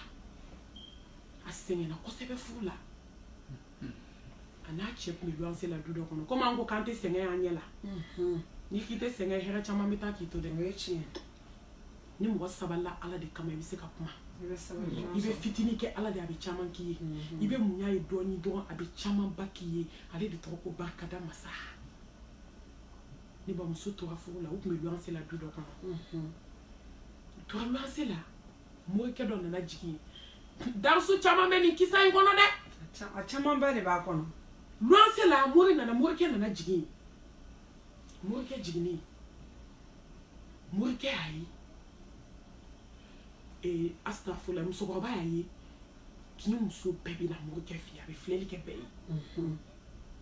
a sɛgɛnna kosɛbɛ furu la a n'a cɛ tun bɛ luwanse la du dɔ kɔnɔ komi an ko k'an tɛ sɛgɛn an ɲɛ la n'i k'i tɛ sɛgɛn hɛrɛ caman bɛ taa k'i to dɛ o ye tiɲɛ ni mɔgɔ sabalila ala de kama i bɛ se ka kuma i bɛ fitinin kɛ ala de a bɛ caman k'i ye i bɛ muɲ'a ye dɔɔni dɔrɔn a bɛ camanba k'i ye ale de tɔgɔ ko barikada masa ne bamuso tora furu la u tun bɛ luwanse la du dɔ kɔnɔ u tora luwanse la morikɛ dɔ nana jigin yen darusu caman bɛ nin kisa in kɔnɔ dɛ a camanba de b'a kɔnɔ luwanse la mori nana morikɛ nana jigin yen morikɛ jiginnen morikɛ y'a ye ee asitafula musokɔrɔba y'a ye kin in muso bɛɛ bɛ na morikɛ fɛ yen a bɛ filɛli kɛ bɛɛ ye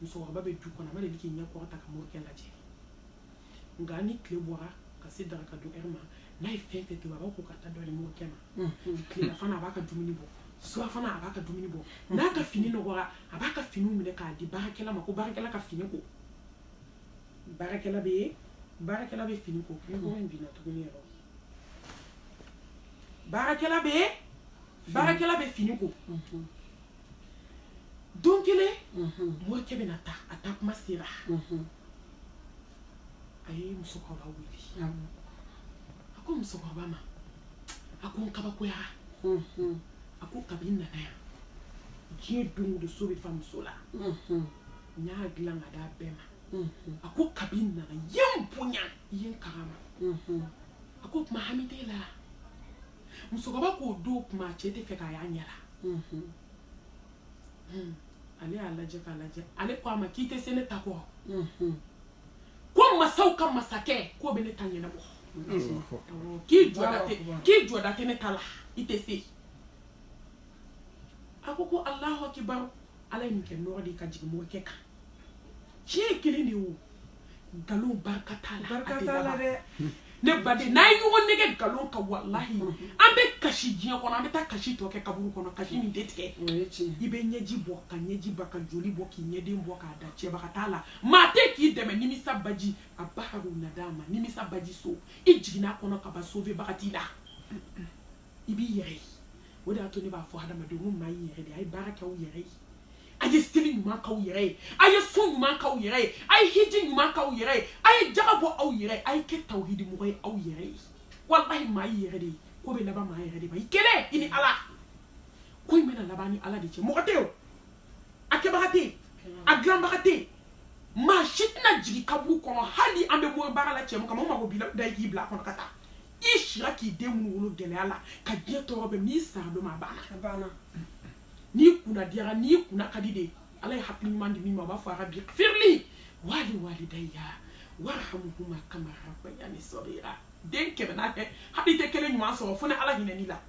musokɔrɔba bɛ du kɔnɔ a ma deli k'i ɲɛ kɔrɔta ka morikɛ lajɛ nka ni tile bɔra ka se daga ka don a yɛrɛ mana fɛn fɛn tobi a b'a ko ka taa dɔ di morikɛ ma tilelafana a b'a ka dumuni bɔ surafana a b'a ka dumuni bɔ n'a ka fini nɔgɔra a b'a ka finiw minɛ k'a di baarakɛla ma ko baarakɛla ka fini ko baarakɛla bɛ baarakɛla bɛ fini ko ɲɔgɔn in binna tuguni yɛrɛ baarakɛla bɛ baarakɛla bɛ fini ko don kelen morikɛ bɛna taa a taa kuma sera a ye musokɔrɔba wele a ko musokɔrɔba ma a ko n kabakoyara a ko kabi n nana yan diɲɛ don de so bɛ fa muso la n y'a dilan k'a d'a bɛɛ ma a ko kabi n nana i ye n bonya i ye n karama a ko tuma hami t'e la musokɔrɔba k'o don kuma cɛ tɛ fɛ k'a y'a ɲɛ la ale y'a lajɛ k'a lajɛ ale ko a ma k'i tɛ se ne ta kɔ ko masaw ka masakɛ k'o bɛ ne ta ɲɛnabɔ k'i jɔda tɛ ne ta la i tɛ se a ko ko alahu akibaru ala ye nin kɛ nɔɔrɔ de ka jigin morikɛ kan tiɲɛ kelen de y'o nkalon barika t'a la dɛ ne baden n'an ye ɲɔgɔn nɛgɛn nkalon kan walahi an bɛ kasi diɲɛ kɔnɔ an bɛ taa kasi tɔ kɛ kaburu kɔnɔ kasi min tɛ tigɛ i bɛ ɲɛji bɔ ka ɲɛji ban ka joli bɔ k'i ɲɛden bɔ k'a da cɛbaga t'a la maa tɛ k'i dɛmɛ nimisa baji a baharu nadama nimisa baji so i jiginna a kɔnɔ ka ban sovebaga t'i la i b'i yɛrɛ ye o de y'a to ne b'a fɔ hadamadenw ko maa y'i yɛrɛ de a ye baara kɛ aw yɛrɛ ye a ye seli ɲuman k'aw yɛrɛ ye a ye sun ɲuman k'aw yɛrɛ ye a ye hiji ɲuman k'aw yɛrɛ ye a ye jaga bɔ aw yɛrɛ ye a ye kɛ tawhidimɔgɔ ye aw yɛrɛ ye walahi maa y'i yɛrɛ de ye ko bɛ laban maa yɛrɛ de ma i kelen i ni ala ko in bɛna laban i ni ala de cɛ mɔgɔ tɛ o a kɛbaga tɛ yen a dilanbaga tɛ yen maa si tɛna jigin kaburu kɔnɔ hali an bɛ bɔ baara la cɛ min kama o mɔgɔ b'i lada i k'i bila a kɔnɔ ka taa i sira k'i den minnu wolo gɛlɛya la ka diɲɛ tɔɔrɔ bɛɛ min i sa don ma a banna n'i kunna diyara n'i kunna ka di de ala ye hakili ɲuman di min ma a b'a fɔ rabi firili wali walidaya warahamuhuma kama rabayani sagira den kɛmɛ n'a kɛ hali i tɛ kelen ɲuman sɔrɔ fo ni ala hinɛna i la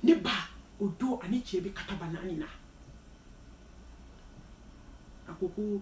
ne ba o don ani cɛ bɛ kataba naani na a ko ko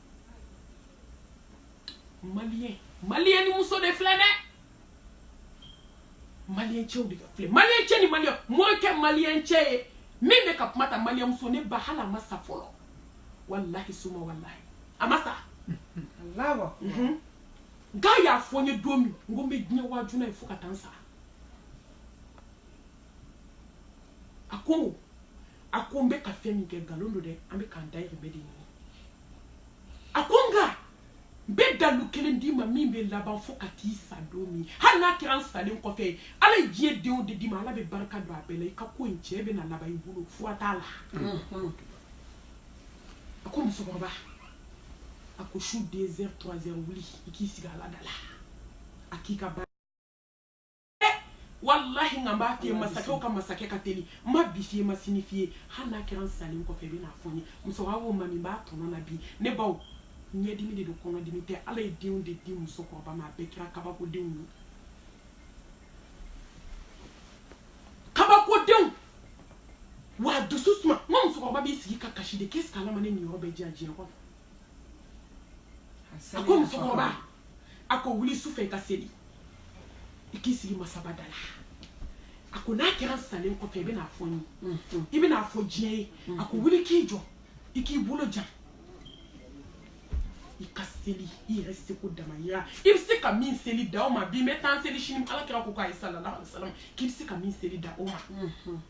maliyɛn maliyɛn ni muso de filɛ nin maliyɛn cɛw de ka filɛ maliyɛn cɛ ni maliyɛn morikɛ maliyɛn cɛ ye min bɛ ka kuma ta maliyɛn muso ne ba hali a ma sa fɔlɔ walahi suma walahi a ma sa mhm. nka a y'a fɔ n ye don min n ko n bɛ diɲɛ waaju n'a ye fo ka taa n sa a ko a ko n bɛ ka fɛn min kɛ nkalon don dɛ an bɛ k'an dayirimɛ de ɲini a ko nka n bɛ dalu kelen d'i ma min bɛ laban fo ka t'i sa don min hali n'a kɛra n salen kɔfɛ ye ala ye diɲɛ denw de d'i ma ala bɛ barika don a bɛɛ la i ka ko i cɛ bɛna laban i bolo fura t'a la a ko musokɔrɔba a ko su deux heures trois heures wuli i k'i sigi ala da la a k'i ka baara walahi nka n b'a f'i ye masakɛw ka masakɛ ka teli n ma bi f'i ye n ma sini f'i ye hali n'a kɛra n salen kɔfɛ i bɛ n'a fɔ n ye musokɔrɔba ko mami n b'a tɔnɔ na bi ne baw ɲɛdimi de don kɔnɔdimi tɛ ala ye denw de di musokɔrɔba ma a bɛɛ kɛra kabakodenw ye kabakodenw wa dusu suma n ka musokɔrɔba b'i sigi ka kasi de k'est-ce que ala ma ne niyɔrɔ bɛɛ di yan diɲɛ kɔnɔ a ko musokɔrɔba a ko wuli su fɛ i ka seli i k'i sigi masaba da la a ko n'a kɛra n salen kɔfɛ i bɛna fɔ n ye i bɛna fɔ diɲɛ ye a ko wuli k'i jɔ i k'i bolo jan i ka seli i yɛrɛ seko damayira i bɛ se ka min seli dan o ma bi n bɛ tan seli sini ala kira ko k'a ye sallallahu alaihi wa sallam k'i bɛ se ka min seli dan o ma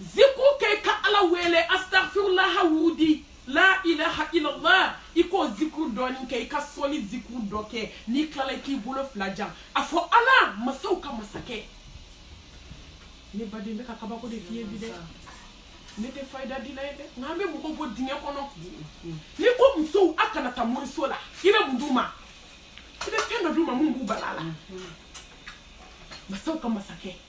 zikuru kɛ i ka ala wele astafirulaha wurudi la ilaha illallah i k'o zikuru dɔɔni kɛ i ka sɔli zikuru dɔ kɛ n'i tilala i k'i bolo fila jan a fɔ ala masaw ka masakɛ ne baden n bɛ ka kabako de f'i ye bi dɛ ne tɛ fayida dila ye dɛ nka an bɛ mɔgɔw bɔ dingɛ kɔnɔ n'i ko musow a kana taa moriso la i bɛ mun d'u ma i bɛ fɛn dɔ d'u ma mun b'u bala la masaw ka masakɛ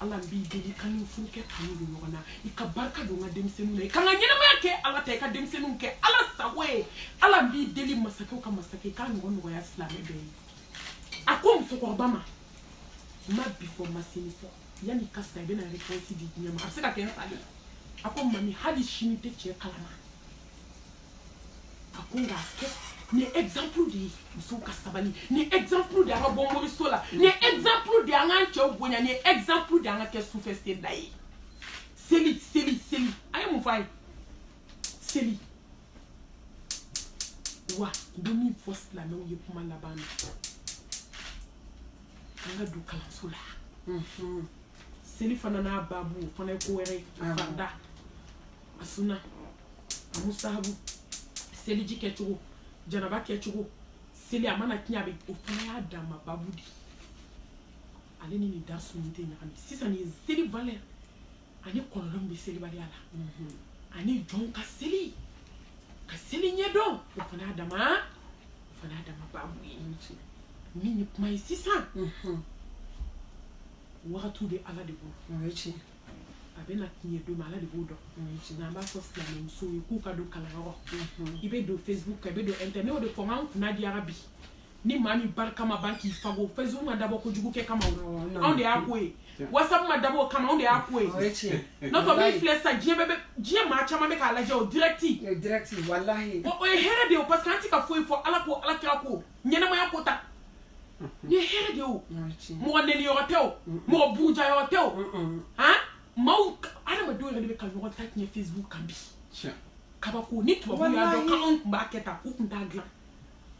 ala n b'i deli ka n ni n furukɛ kanu don ɲɔgɔn na i ka barika don n ka denmisɛnninw na i ka n ka ɲɛnamaya kɛ ala ta i ka denmisɛnninw kɛ ala sago ye ala n b'i deli masakɛw ka masakɛ i k'a ɲɔgɔn nɔgɔya silamɛ bɛɛ ye a ko musokɔrɔba ma n ma bi fɔ n ma sini fɔ yanni i ka sa i bɛna réponse di diɲɛ ma a bɛ se ka kɛ n salen a ko mami hali sini tɛ cɛ kalama a ko nka kɛ nin ye exemple de ye musow ka sabali nin ye exemple de ye an ka bɔ moriso la nin ye exemple de ye an k'an cɛw bonya nin ye exemple de ye an ka kɛ sufɛ selila ye seli seli seli a ye mun fɔ a ye seli wa n bɛ min fɔ silamɛw ye kuma laban na an ka don kalanso la seli fana n'a baabu o fana ye ko wɛrɛ ye farida a sunna a musahabu seliji kɛcogo janaba kɛcogo seli a mana tiɲɛ a bɛ o fana y'a dama babu de ale ni nin darsu nin tɛ ɲagami sisan nin seli valeur ani kɔlɔlɔ min bɛ selibaliya la ani jɔnw ka seli ka seli ɲɛdɔn o fana y'a dama o fana y'a dama babu ye min ye kuma ye sisan wagatiw bɛ ala de bolo a bɛ na tiɲɛ don min ala de b'o dɔn nka an b'a fɔ silamɛmusow ye k'u ka don kalanyɔrɔ i bɛ don facebook kan i bɛ don internet ne y'o de fɔ n k'an kunna diyara bi ni maa min barika ma ban k'i fago facebook ma dabɔ kojugu kɛ kama anw de y'a ko ye whatsapp ma dabɔ o kama anw de y'a ko ye n'o tɛ min filɛ sisan diɲɛ bɛɛ diɲɛ maa caman bɛ k'a lajɛ o direct o ye hɛrɛ de ye parce que an tɛ ka foyi fɔ ala ko ala kira ko ɲɛnɛmaya ko ta ni hɛrɛ de o mɔgɔ neniyɔrɔ tɛ o mɔgɔ burujayɔrɔ tɛ o han maaw adamadenw yɛrɛ de bɛ ka ɲɔgɔn ta tiɲɛ facebook kan bi kabako ni tubabu y'a dɔn k'anw tun b'a kɛ tan u tun t'a dilan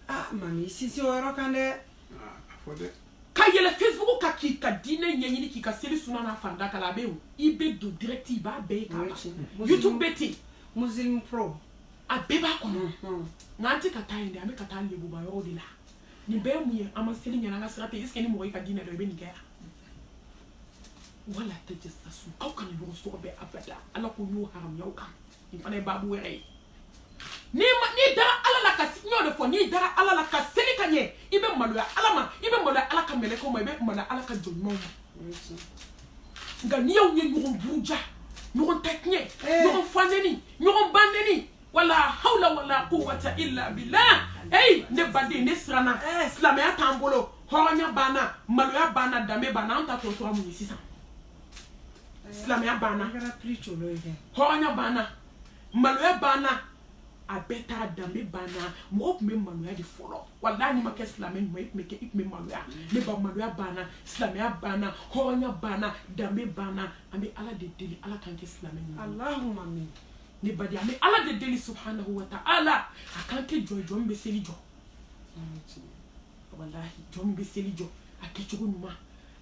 ah, mami sisi o yɔrɔ kan dɛ ah, ka yɛlɛn facebook kan k'i ka diinɛ ɲɛɲini k'i ka seli suna n'a farida kalan a bɛ yen i bɛ don direct i b'a bɛɛ ye k'a ban youtube bɛ ten muslim pro a bɛɛ b'a kɔnɔ nka an tɛ ka taa yen dɛ an bɛ ka taa lebuba yɔrɔ de la nin bɛɛ ye mun ye an ma seli ɲɛna an ka sira tɛ eseke ni mɔgɔ y'i ka diinɛ dɔn i bɛ nin kɛ yan wala tajassasu aw kana ɲɔgɔn sɔgɔbɛ abada ala ko y'o haramuya aw kan nin fana ye baabu wɛrɛ ye n'i ma n'i dara ala la ka n y'o de fɔ n'i dara ala la ka seli ka ɲɛ i bɛ maloya ala ma i bɛ maloya ala ka mɛlɛkɛw ma i bɛ maloya ala ka jɔn ɲumanw ma nka n'i y'aw ye ɲɔgɔn buruja ɲɔgɔn ta tiɲɛ eh. ɲɔgɔn fa neni ɲɔgɔn ba neni wala hawla wala quwwata illa billah eyi ne baden ne siranna eh. silamɛya t'an bolo hɔrɔnya banna maloya banna danbe banna an ta tɔ tora mun ye sisan eh. silamɛya banna hɔrɔnya banna maloya banna a bɛɛ t'a danbe banna mɔgɔ tun bɛ maloya de fɔlɔ walahi n'i ma kɛ silamɛ ɲuman i tun bɛ kɛ i tun bɛ maloya ne ba maloya banna silamɛya banna hɔrɔnya banna danbe banna an bɛ ala de deli ala k'an kɛ silamɛ ɲuman alahuma amin ne baden an bɛ ala de deli subhanahu wa ta'ala a k'an kɛ jɔn jɔn min bɛ seli jɔ jɔn min bɛ seli jɔ a kɛcogo ɲuman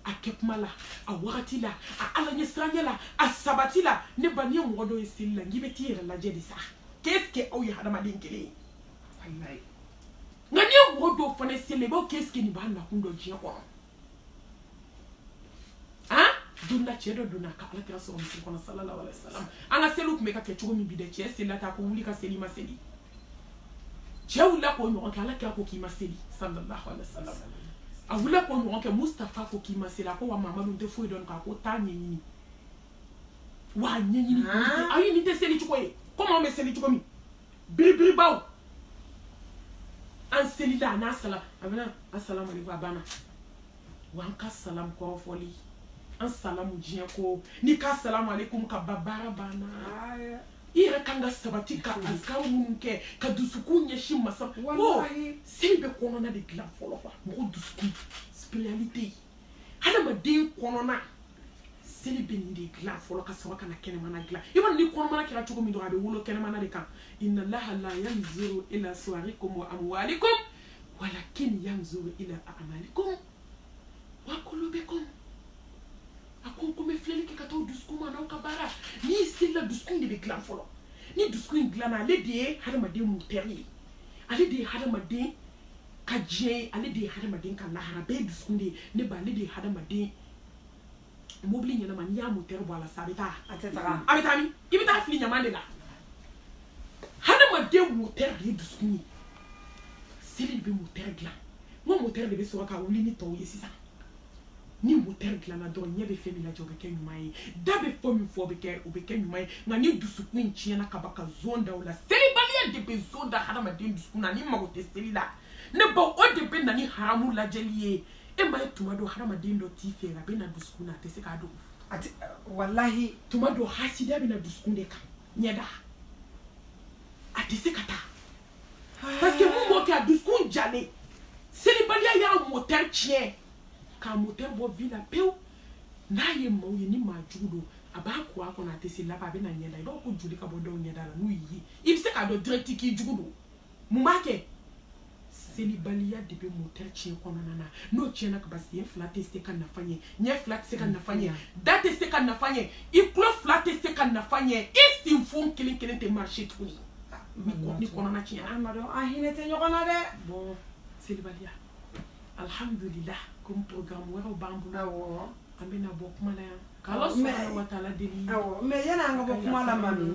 a kɛ kuma la a wagati la a ala ɲɛsiranya la a sabati la ne ba n'i ye mɔgɔ dɔ ye seli la n k'i bɛ t'i yɛrɛ lajɛ de sa k'est-ce que aw ye hadamaden kelen ye walayi nka n'i ye mɔgɔ dɔw fana seli i b'a fɔ k'est-ce que nin b'a nakun dɔn diɲɛ kɔnɔ an donna cɛ dɔ donna ka ala kira sɔrɔ misiri kɔnɔ sallallahu alaihi wasallam an ka seliw tun bɛ ka kɛ cogo min bi dɛ cɛ selila tan ko wuli ka seli i ma seli cɛ wulila k'o ɲɔgɔn kɛ ala kira ko k'i ma seli sallallahu alaihi wasallam a wulila k'o ɲɔgɔn kɛ mustafa ko k'i ma seli a ko wa mamadu n tɛ foyi dɔn k'a ko taa ɲɛɲini wa a ɲɛɲini ayi nin tɛ seli cogo ye komi anw bɛ seli cogo min biribiri baw an selila a n'a sala a banna asalamu alaikum a banna wa an ka salamu kɔrɔfɔli an salamu diɲɛ ko n'i ko salamu aleykum ka ban baara banna i yɛrɛ kan ka sabati ka azikaru minnu kɛ ka dusukun ɲɛsin masa ko seli bɛ kɔnɔna de dilan fɔlɔ quoi mɔgɔ dusukun spiritualité ye hadamaden kɔnɔna seli bɛ nin de dilan fɔlɔ ka sɔrɔ ka na kɛnɛmana dilan i b'a dɔn ni kɔnɔmana kɛra cogo min dɔrɔn a bɛ wolo kɛnɛmana de kan inna laha la yanzuru ila suwarikum wa amwalikum walakin yanzuru ila amalikum wa qulubikum a ko ko n bɛ filɛli kɛ ka taa aw dusukun ma n'aw ka baara n'i selila dusukun de bɛ dilan fɔlɔ ni dusukun in dilanna ale de ye hadamaden motɛri ye ale de ye hadamaden ka diɲɛ ye ale de ye hadamaden ka lahara bɛɛ ye dusukun de ye ne ba ale de ye hadamaden mobili ɲɛnama n'i y'a motɛri bɔ a la sa a bɛ taa a tɛ taga a bɛ taa min i bɛ taa fili ɲama de la hadamaden motɛri de ye dusukun ye seli de bɛ motɛri dilan n ko motɛri de bɛ sɔrɔ ka wuli ni tɔw ye sisan ni motɛri dilanna dɔrɔn ɲɛ bɛ fɛn min lajɛ o bɛ kɛ ɲuman ye da bɛ fɔ min fɔ o bɛ kɛ ɲuman ye nka ni dusukun tiɲɛna ka ban ka zon da o la selibaliya de bɛ zon da hadamaden dusukun na n'i mago tɛ seli la ne ba o de bɛ na ni haramu lajɛli ye e m'a ye tuma dɔ hadamaden dɔ t'i fɛ a bɛ na dusukun na a tɛ se k'a dogo a tɛ walahi tuma dɔ hasidiya bɛ na dusukun de kan ɲɛda a tɛ se ka taa parce que mun b'o kɛ a dusukun jalen selibaliya y'a motɛri tiɲɛ k'a motɛri bɔ vie la pewu n'a ye maaw ye ni maa jugu don a b'a ko a kɔnɔ a tɛ se laban a bɛ na ɲɛda i b'a ko joli ka bɔ dɔw ɲɛda la n'u y'i ye i bɛ se k'a dɔn direct k'i jugu don mun b'a kɛ selibaliya de bɛ motɛri tiɲɛ kɔnɔna na n'o tiɲɛna ka ban sen fila tɛ se ka nafa ɲɛ ɲɛ fila tɛ se ka nafa ɲɛ da tɛ se ka nafa ɲɛ i tulo fila tɛ se ka nafa ɲɛ i sinfon kelen kelen tɛ marché tuguni ni kɔnɔna tiɲɛ an m'a dɔn an hinɛ tɛ ɲɔgɔn na dɛ bon selibaliya alhamdulilah komi programme wɛrɛw b'an bolo an bɛna bɔ kuma la yan k'ala subahana wataala deli mais yan'an ka bɔ kuma la mami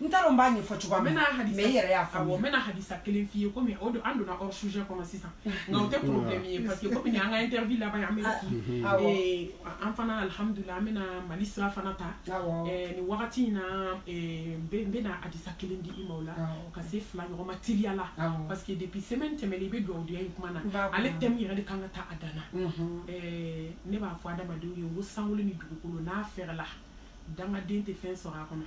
n t'a dɔn n b'a ɲɛfɔ cogoya min na mais i yɛrɛ y'a faamuya awɔ n bɛna hadisa kelen f'i ye komi o don an donna hors sujet kɔnɔ sisan nka o tɛ problème ye parce que komi nin an ka interview laban ye an bɛ ee an fana alhamdulila an bɛna mali sira fana ta nin wagati in na n bɛna hadisa kelen di i ma o la ka se fila ɲɔgɔn ma teliya la parce que depuis semaine tɛmɛnen i bɛ dugawudenya in kuma na ale thème yɛrɛ de kan ka ta a dan na ne b'a fɔ adamadenw ye ko sankolo ni dugukolo n'a fɛrɛla dangaden tɛ fɛn sɔrɔ a kɔnɔ